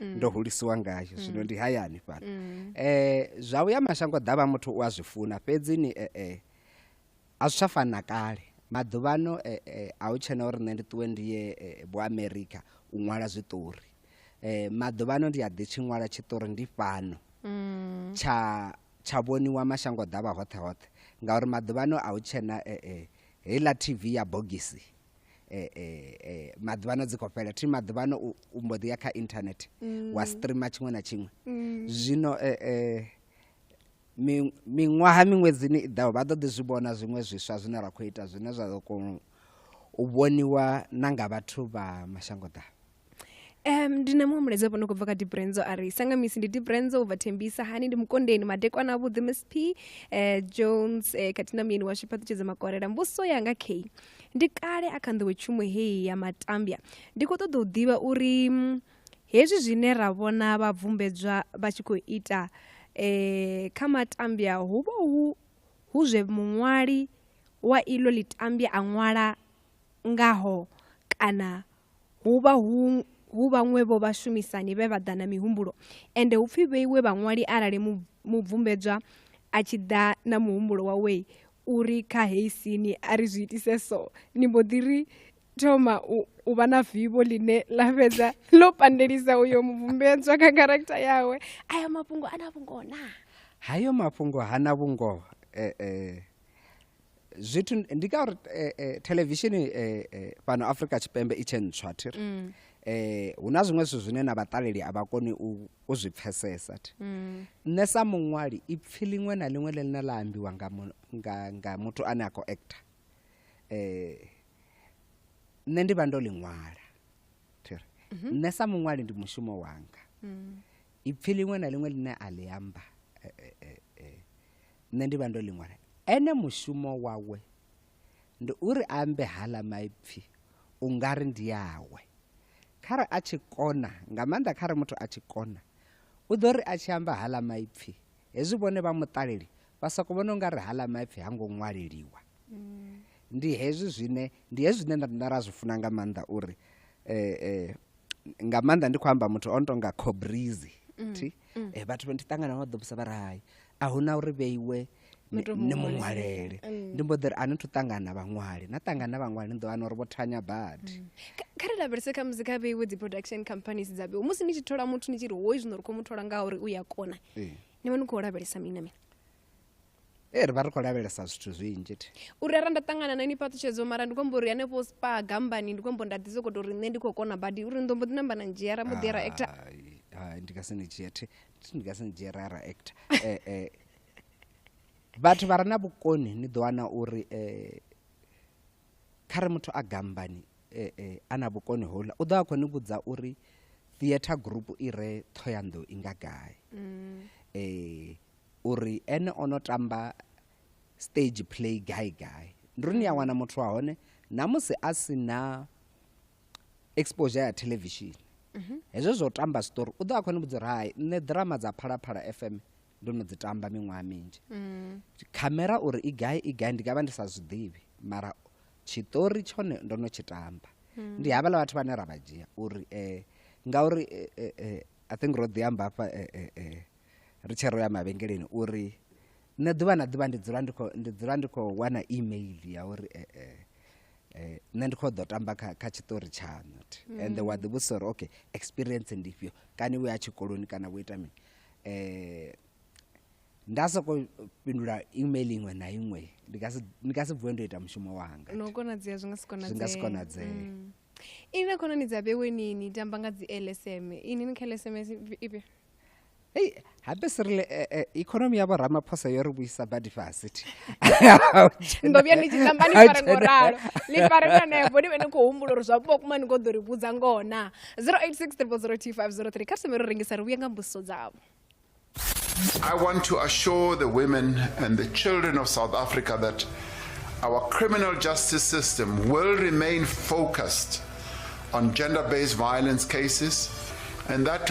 mm. ndo hulisiwa ngayo mm. zwino ndi hayani fhano mm. eh zwa uya mashango ḓavha muthu u a zwi funa fhedzi ni eh, eh a zwi tsha fana kale maḓuvhano eh, eh, a hu tshena uri nṋe ndi ṱuwe ndi ye eh, bo america u ṅwala zwiṱori eh maḓuvhano ndi a ḓi tshi ṅwala tshiṱori ndi fhano mm. tsha tsha vhoniwa mashango ḓavha hoṱhe hoṱhe ngauri maḓuvhano a hu tshena eh, eh, heiḽa tv ya bogisi eh, eh, eh, maḓuvhano dzi khou fhela thi maḓuvhano u, u mbo ḓi ya kha internet mm. wa streama tshiṅwe na tshiṅwe mm. zwino eh, eh, miṅwaha miṅwedzini i ḓaho vha ḓo ḓi zwi vhona zwiṅwe zwiswa zwine ra khou ita zwine zwa ḓo kona u vhoniwa na nga vhathu vha mashango ḓavha Um, ndi na muhumbulezi wapo no khou bva kha dibrenzo a ri sanga misi ndi dibrenzo u bva thembisa hani ndi mukondeni madekwana avhuḓi msp uh, eh, jones uh, eh, khathihi na muyeni washu fhaṱutshedza makolela mbuso yanga key ndi kale a kha nḓowe tshumo heyi ya matambya ndi khou ṱoḓa u ḓivha uri mm, hezwi zwine ra vhona vhabvumbedzwa vha tshi khou ita um kha matambya hu vha hu hu zwe muṅwali wa iḽo ḽitambya a ṅwala ngaho kana Hu vha hu hu vhaṅwe vho vhashumisani vhe vha ḓa na mihumbulo, ende hu pfi vheiwe vhaṅwali arali mu, mubvumbedzwa a tshi ḓa na muhumbulo wawe u ri kha heyi sini a ri zwi itise so, ni mbo ḓi ri thoma u, u vha na vivho ḽine ḽa fhedza ḽo pandelisa uyo mubvumbedzwa kha kharakitha yawe. Ayo mafhungo a na vhungoho naa? Hayo mafhungo ha na vhungoho. E-e. zwithu ndi ka uri eh, eh, televishini eh, eh, fhano afrika tshipembe i tshe ntswa thi ri mm. eh, hu na zwiṅwe zwithu zwine na vhaṱaleli a vha koni u, u zwi pfesesa thi mm. nṋe sa muṅwali ipfi liṅwe na liṅwe ḽe ḽine ḽa ambiwa nga, mu, nga, nga muthu ane a khou acta eh, nṋe ndi vha ndo ḽi ṅwala thi ri mm -hmm. nṋe sa muṅwali ndi mushumo wanga mm. ipfi liṅwe na liṅwe ḽine a ḽi amba eh, eh, eh, nṋe ndi vha ndo ḽi ṅwala ene mushumo wawe ndi uri a ambe hala maipfi u nga ri ndi awe khare a tshi kona nga maanḓa khare muthu a tshi kona u ḓo ri a tshi amba hala maipfi hezwi vhone vha muṱaleli vha soko vhona u nga ri hala maipfi ha ngo ṅwaleliwa mm. ndi hezwi zwine ndi hezwi zwine nda ra zwi funa nga maanḓa uri um nga maanḓa ndi khou amba muthu o no tonga cobrizi mm, thi mm. Eh, vhathu vha ndi ṱangana vha ḓobusa vha ri hai a hu na uri vheiwe ni mu ṅwalele mm. ndi mbo ḓiri a ni thu ṱangana vhaṅwali na ṱangana vhaṅwali ni ḓo wana uri vho thanya badi mm. kha ri lavhelese kha musi kha vheiwe dzi production companies dza vheiwe musi ni tshi thola muthu ni tshi ri hoi zwino ri khou mu thola ngauri u ya kona ni vha ni khou lavhelesa mini na mini ee ri vha ri khou lavhelesa zwithu zwinzhi thi u rera nda ṱangana na ni fhaṱutshedzo mara ndi khombo uri hanefho spa gambani ndi khombo nda ḓi soko to ri nṋe ndi khou kona badi uri ndombo ḓi namba na ndzhia ra mbo ḓi ya ra actor Hai, hai, ndi nga si ni dzhie thi thi, ndi nga si ni dzhie ra ra actor Eh, eh, vhathu vha re na vhukoni ni ḓo wana uri eh, kha re muthu a gambani eh, eh, a na vhukoni houḽa u ḓo a khou ni vhudza uri theatre group i re thoyandou i nga gai eh, uri ene o no tamba stage play gai gai ndi uri ni a mm. wana muthu wa hone na musi a si na exposure ya televishini mhm. hezwo zwo tamba story u ḓo a khone vhudza uri hai nṋe drama dza phalaphala f m ndo no dzi tamba miṅwaha minzhi mm. khamera uri i gai i gai ndi nga vha ndi sa zwiḓivhi mara tshiṱori tshone ndo no tshi tamba mm. ndi havhala vhathu vhane ra vha dzhia uri um ngauri eh, eh, i think ro ḓi amba hafha um ri tshe ro ya mavhengeleni uri nṋe ḓuvha na ḓuvha ndi dzula ndi khou ndi dzula ndi khou wana email ya uri eh, eh, eh, nṋe ndi khou ḓo tamba kha kha tshiṱori tshaṋu thi. and wa ḓivhusa uri okay experience ndi ifhio kani wo ya tshikoloni kana wo ita mini um nda sokou fhindula email iṅwe na iṅwe ndi nga si- ndi nga si vuwe ndo ita mushumo wanga no konadzea zwi nga si zwi nga si konadzee konadzee ini na khonani dza vhewe ni ni tamba nga dzi lsm ini ni kha lsm ifhio ei habe si rile eh, eh, ikonomi yavho ramaphosa yo ri vhuisa badi fhasi thi ndo vhuya ni tshi tamba ni fare ngo ralo ni fare na nevo ni vhe ni khou humbula uri zwa vhukuma kuma ni khou ḓo ri vhudza ngoho na 086 302 kha sime ro rengisa ri vhuye nga mbusiso dzavho I want to assure the women and the children of South Africa that our criminal justice system will remain focused on gender based violence cases and that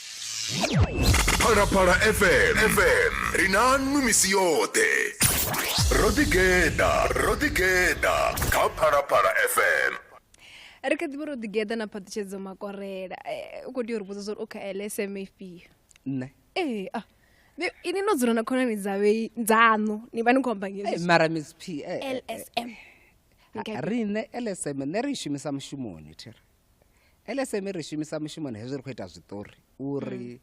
phalaphala fm fm ri na nnu misi yoṱhe ro ḓigeḓa ro ḓigeḓa kha phalaphala fm ri kha ḓivha ro ḓigeḓa na phaṱhutshedzo makorela eh, u khou tea uri vhudza zwa uri u kha lsm ifhio nṋe ee ah, ni- ini no dzula na khonani dzavhe dzaṋu ni vha ni khou amba Eh, ngezwi mara miss p eh, eh, lsm Ni kha- riṋe lsm nṋe ri i shumisa mushumoni thira lsm ri shumisa mushumoni hezwi ri khou ita zwiṱori uri mm.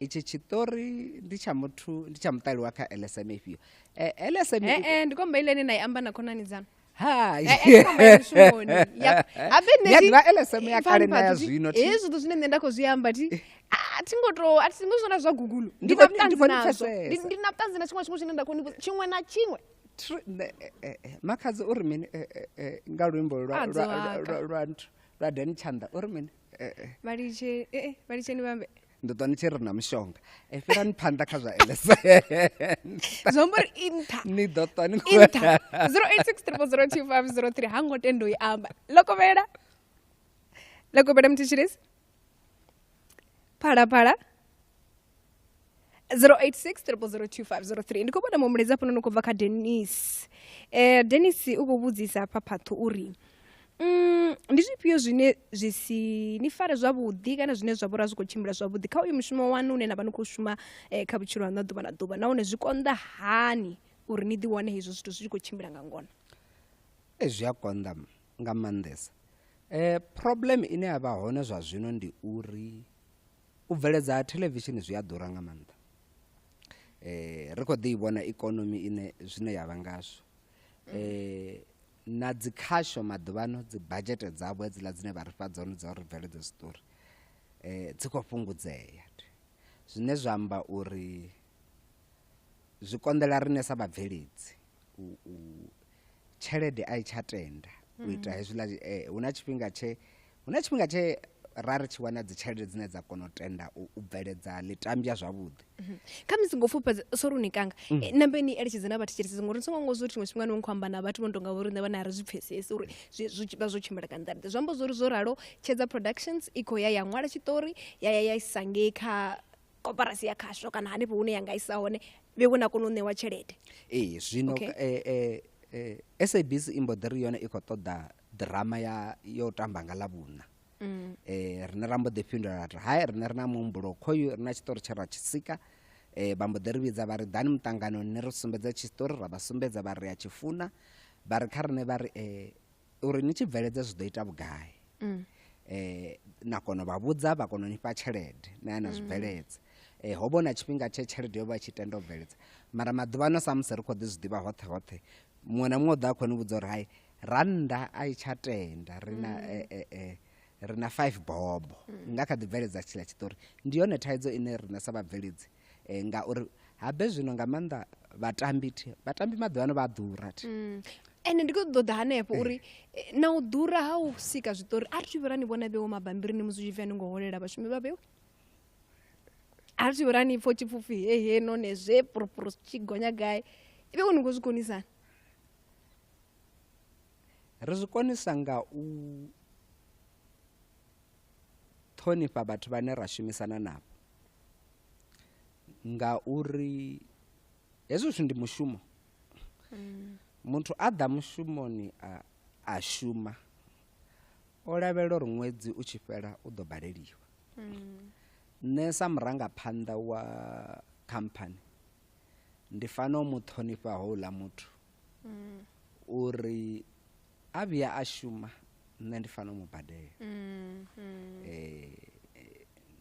itshi tshiṱori ndi tsha muthu ndi tsha muṱali wa kha lsm ifhio eh, lsm eh, eh, ndi komba ile ine na i amba na khonani dzanu lsm ya kale na ya zwino hezwi zwithu zwine nṋe nda khou zwi amba ti a thi ngo to a thi ngo zwona zwa gugulo ndi na vhuṱanzi nazwo ndi na vhuṱanzi na tshiṅwe tshiṅwe tshine nda khou tshiṅwe na tshiṅwe Eh, eh, eh, makhadzi uri mini nga luimbo lwa dani tshanda uri mini vhalitsheni vhambe ndo ḓo ni tshi ri na mushonga e fhirani phanḓa kha zwa lsnzwombori inta ni ḓo ṱwa ni inta 0863 ha ngo tendo i amba lokovhela lokovhela mthitshilisi phalaphala 086 ndi khou vhona muhumbulezi afhanoni u khou bva kha denis um eh, denis u khou vhudzisa hafha phaṱho uri Mm, ndi zwifhio zwine zwi si ni fare zwavhuḓi kana zwine zwa vhora zwi khou tshimbila zwavhuḓi kha uyu mushumo wanu une na vha ni khou shuma eh, kha vhutshilo haṋu ḓuvha na ḓuvha nahone zwi konḓa hani uri ni ḓiwane hezwo zwithu zwi tshi khou tshimbila nga ngona e zwi a konḓa nga maanḓesa um problem ine ya vha hone zwa zwino ndi uri u bveledza ha thelevishini zwi a ḓura nga maanḓa eh ri kho ḓi vhona ikonomi ine zwine yavha ngazwo eh na dzi khasho maḓuvhano dzi budget dzavho hedziḽa dzine vha ri fha dzone dza uri bveledze zwiṱori eh dzi kho fhungudzea zwine zwa amba uri zwi konḓela rine sa vhabveledzi u, u tshelede a i tsha tenda u mm. ita hezwiḽa eh, hu na tshifhinga tshe hu na tshifhinga tshe ra ri tshi wana dzitshelede dzine dza kona u tenda u bveledza ḽitambya zwavhuḓi mhm. kha musi ngo fhufhedza sori u ni kanga mm. eh, nambe ni eletshedze na vhathu tsheletsezi ngori ni songo ngo zwo ri tshiṅwe tshifhinga ni khou amba na vhathu vho no tonga vho riṋe vhane a ri zwi pfhesesi uri vha zwo tshimbila ka nḓaḓe zwi amba zwori zwo ralo tshedza productions i khou ya ya ṅwala tshiṱori ya ya ya isangei kha koparasi ya khasho kana hanefho hune ya nga isa hone vhe vho na kona u ṋewa tshelede ee zwino okay. eh, eh, eh, sabc i mbo ḓi ri yone i khou ṱoḓa ḓirama ya yo tamba nga ḽavhuna mm. eh, rine ra mbo ḓi fhindula ri hai rine ri na muhumbulo khoyu ri na tshiṱori tshe ra tshi sika eh, vha mbo ḓi ri vhidza vha ri ḓani muṱanganoni ni ri sumbedza tshiṱori ra vha sumbedza vha ri a tshi funa vha ri kha rine vha ri eh, uri ni tshi bveledza zwi ḓo ita vhugai mm. eh na kono vha vhudza vha kono nifha tshelede na yana zwi mm. bveledza eh ho bona tshifhinga tshe tshelede yo vha tshi tenda u bveledza mara maḓuvha no samusi ri kho ḓi zwi ḓivha hoṱhe hoṱhe muṅwe na muṅwe ḓa khoni vhudza uri hai rannda a i tsha tenda ri na mm. eh eh eh ri na 5 bobo mm. nga kha ḓi bveledza tshila tshitori ndi yone thaidzo ine rine sa vhabveledzi eh, ngauri habe zwino nga maanḓa vhatambi thi vhatambi maḓuvha ano vha a ḓura thi mm. ende ndi khou ṱoḓa hanefho uri eh, na u ḓura ha u sika zwiṱori a ri vhera ni vhona vheo mabambirini musi zwi tshi ni ngo holela vhashumi vha vheo a ri vhera ni pfo tshipfupfi he he none zwe purupuru tshi gonya gai ive u ni khou zwi konisana ri zwi konisa nga u ṱhonifha vhathu vhane ra shumisana navho ngauri hezwo zwithu ndi mushumo mm. muthu a ḓa mushumoni a, a shuma o lavhelela uri ṅwedzi u tshi fhela u ḓo baleliwa mm. nṋe sa murangaphanḓa wa khamphani ndi fanela u mu ṱhonifha houḽa muthu mm. uri a vhuya a shuma nṋe ndi fanela mu badela mm, mm. eh,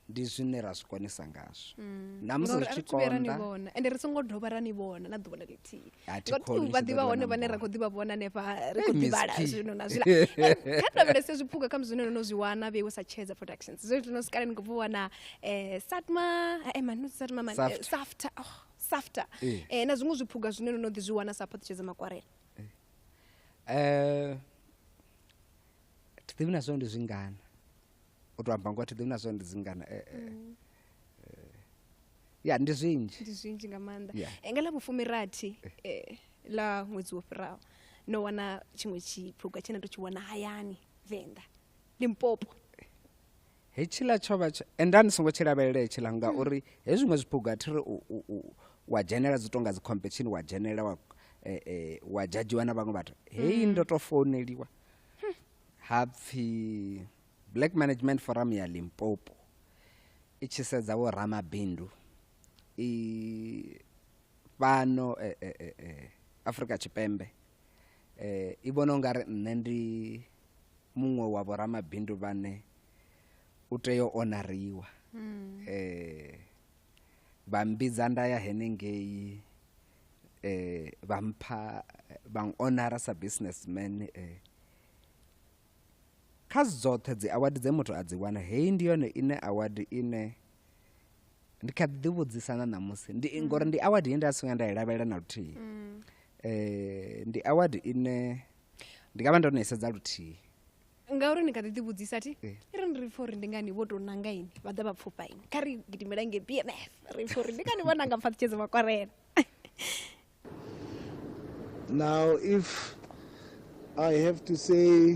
ndi zwine ra zwi konisa ngazwo mm. na musi ri tshi konda ende ri songo dovha ra ni vhona na ḓuvha na lithihi ngoti vha ḓivha hone vhane ra khou ḓivha vhona hanefha ri khou ḓivhala zwino na zwila kha tovhelese zwiphuga kha zwine no no zwi wana vhe sa tshedza productions zwe zwino sikale ni khou vuwa na eh satma eh manu satma man eh, safta oh safta eh. eh, na zwiṅwe zwiphuga zwine no no ḓi zwi wana sa phaṱutshedza makwarela eh. eh, thi ḓivhi na zwone ndi zwingana u to amba ngoa thi ḓivhi na zwone ndi zwingana eh, eh. Mm. ya ndi zwinzhi ndi zwinzhi nga maanḓa yeah. nga ḽa vhufumirathi eh. ḽa ṅwedzi wo fhiraho no wana tshiṅwe tshiphuga tshine to tshi wana hayani venḓa limpopo hetshiḽa tsho vha enda ni songo tshi lavhelela hetshiḽa ngauri he zwiṅwe zwiphuga thi ri wa dzhenela dzi tonga dzi competition wa dzhenela wa eh, eh, wa dzhadzhiwa na vhaṅwe vhathu heyi mm. ndo to founeliwa ha pfhi black management forum ya limpopo i tshi sedza vho ramabindu i fhano eh, eh, eh, eh, afrika tshipembe eh, i vhona ungari nṋe ndi muṅwe wa vhoramabindu vhane u tea u onariwa mm. eh vha mbidza nda ya henengei eh vha mpha vha onara sa businessman eh kha dzoṱhe dzi award dze muthu a dzi wana heyi ndi yone ine award ine ndi kha ḓi vhudzisa na ṋamusi ndi mm. ngori ndi award ye nda si nga nda i lavhelela na luthihi mm. eh ndi award ine ndi nga vha ndo no i sedza luthihi ngauri ni kha ḓi ḓivhudzisa thi eh. ri ni ri pfa uri ndi ngani vho tou nanga ini vha ḓa vha pfufha ini kha ri gidimela nge b m f ri pfa uri ndi ngani vho nanga pfaṱhutshedzo vha kwarela now if i have to say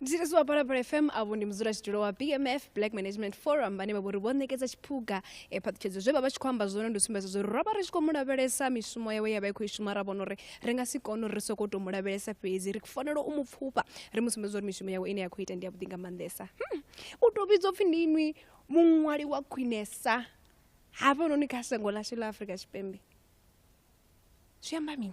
mthethisi wa palapala fm avho ndi mudzulatshidulo wa bmf black management forum vhane vha vhori vho ṋekedza tshiphuga e phaṱhutshedzo zwe vha vha tshi khou amba zwone ndi u sumbedza zwo uri ro vha ri tshi khou mu lavhelesa mishumo yawe ya vha i khou i shuma ra vhona uri ri nga si kone uri ri sokou tou mu lavhelesa fhedzi ri fanela u mu pfufha ri mu sumbedza uri mishumo yawe ine ya khou ita ndi ya vhuḓi nga maanḓesa hmm. u tou vhidzwa pfhi ndi inwi muṅwali wa khwinesa hafhanoni kha shango ḽashu ḽa afrika tshipembe zwi amba mini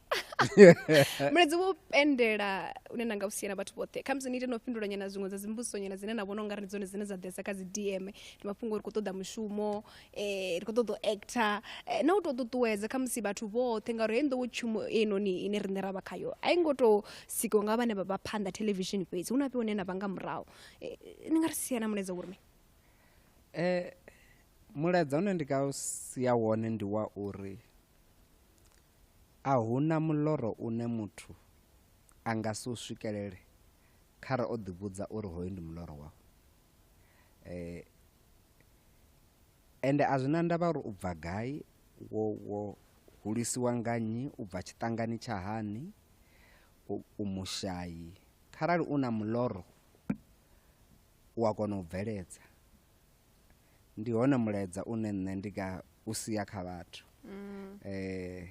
mulezi wo pendela une na nga u siela vhathu vhoṱhe khamusi ni ite no fhindula nyana zwiṅwe dza dzimbudziso nyana dzine na vhona u nga ri ndi dzone dzine dza ḓesa kha dzi dm ndi mafhungo ri khou ṱoḓa mushumo um ri khou ṱoḓa u actor eh, na u tou ṱuṱuwedza khamusi vhathu vhoṱhe ngauri heyi nḓowo tshumo einoni ine riṋe ra vha khayo a i ngo tou sikiwa nga vhane vha vha phanḓa theḽevishini fhedzi hu na fhiwa hune na vha nga murahu Eh, ni nga ri sia na muleza uri mini um mulaedza une ndi nga u sia wone ndi wa uri A hu na muloro une muthu a nga si u swikelele khare o ḓivhudza uri hoyu ndi muloro wawe. Ende a zwi na ndavha uri u bva gai, wo wo hulisiwa nga nnyi, u bva tshiṱangani tsha hani, u mushayi, kharali u na muloro u a kona u bveledza ndi hone mulaedza une nṋe ndi nga u sia kha vhathu mm. eh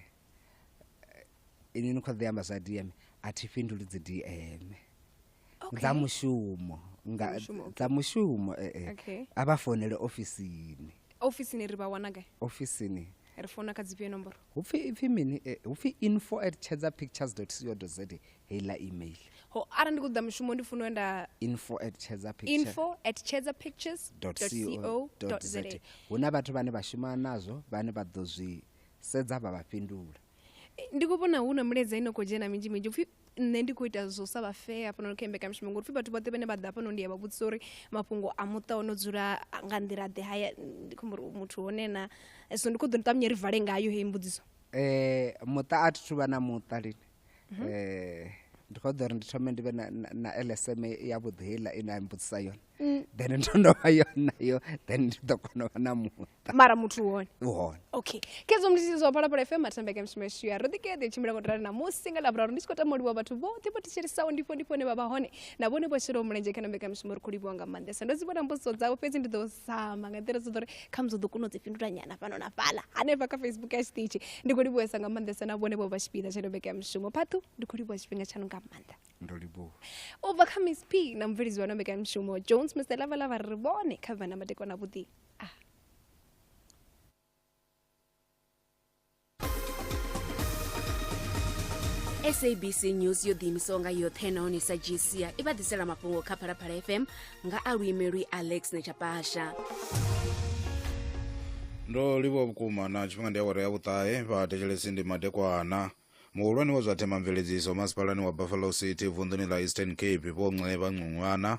ini ni kho ḓi amba zwa DM a thi fhinduli dzi DM dza mushumo nga dza mushumo eh, eh. a vha founele ofisini ofisini ri vha wana gai ofisini ri founa kha dzifhio nomboro hupfi ipfi mini eh, hupfi info at tshedza pictures co za heiḽa email ho arali ndi khou ḓa mushumo ndi funa nda info at tshedza info at tshedza pictures co za hu na vhathu vhane vha shuma nazwo vhane vha ḓo zwi sedza vha vha fhindula ndi khou vhona hu na milaedza ino khou dzhena minzhi minzhi upfhi nṋe ndi khou ita zwo sa vha fair hafhanoni kha mbekamishumo ngori pfhi vhathu vhoṱhe vhane vha ḓa hafhanoni ndi a vha vhudzisa uri mafhungo a muṱa o no dzula nga nḓila ḓe haya ndi khomba uri muthu hone na so ndi khou ḓo ṱavhanye ri vale ngayo heyi mbudziso eh muṱa a thi thu vha na muṱa lini mhm. eh ndi khou ḓo ri ndi thome ndi vhe na lsm ya vhuḓi heiḽa ine a mbudzisa yone Mm. then ndo ndo vha yo nayo then ndi ḓo kona u vha na muṱa mara muthu u hone u hone okay kedzo mlisi zwa phalaphala fm atambeke mshimeshiya ro ḓikeḓe tshimbila ngo tirana namusi nga lavhuraru ndi tshi khou tama u livhuwa vhathu vhoṱhe vho thetshelesisaho ndifho ndifho ne vha vha hone na vhone vho shelaho mulenzhe kha na mbekanyamushumo ri khou livhuwa nga maanḓesa ndo dzi vhona mbudziso dzavho fhedzi ndi ḓo zama nga nḓila dzoḓo ri khamusi u ḓo kona u dzi fhindula nyana fhano na fhaḽa hanefha kha facebook ya tshiṱitshi ndi khou livhuwesa nga maanḓesa na vhone vho vha tshipiḓa tsha no mbekanyamushumo phathu ndi khou livhuwa tshifhinga tshaṋu nga maanḓa ndo livhuwa u bva kha miss p na mubveledzi wa nombekanmushumo jones mr lavalava ri vhone kha vhana madekwana vhuḓi sabc news yo ḓiimisaho nga yoṱhe nahone sa gcia i vha ḓisela mafhungo kha phalaphala fm nga a luimelwi alex nechapasha ndo livhuwa vhukuma na tshifhinga ndi awara ya vhuṱahe vha thetshelesi ndi madekwana muhulwane wa zwa themamveledziso masipalani wa buffalo city vunḓuni ḽa eastern cape vho nceba ncungwana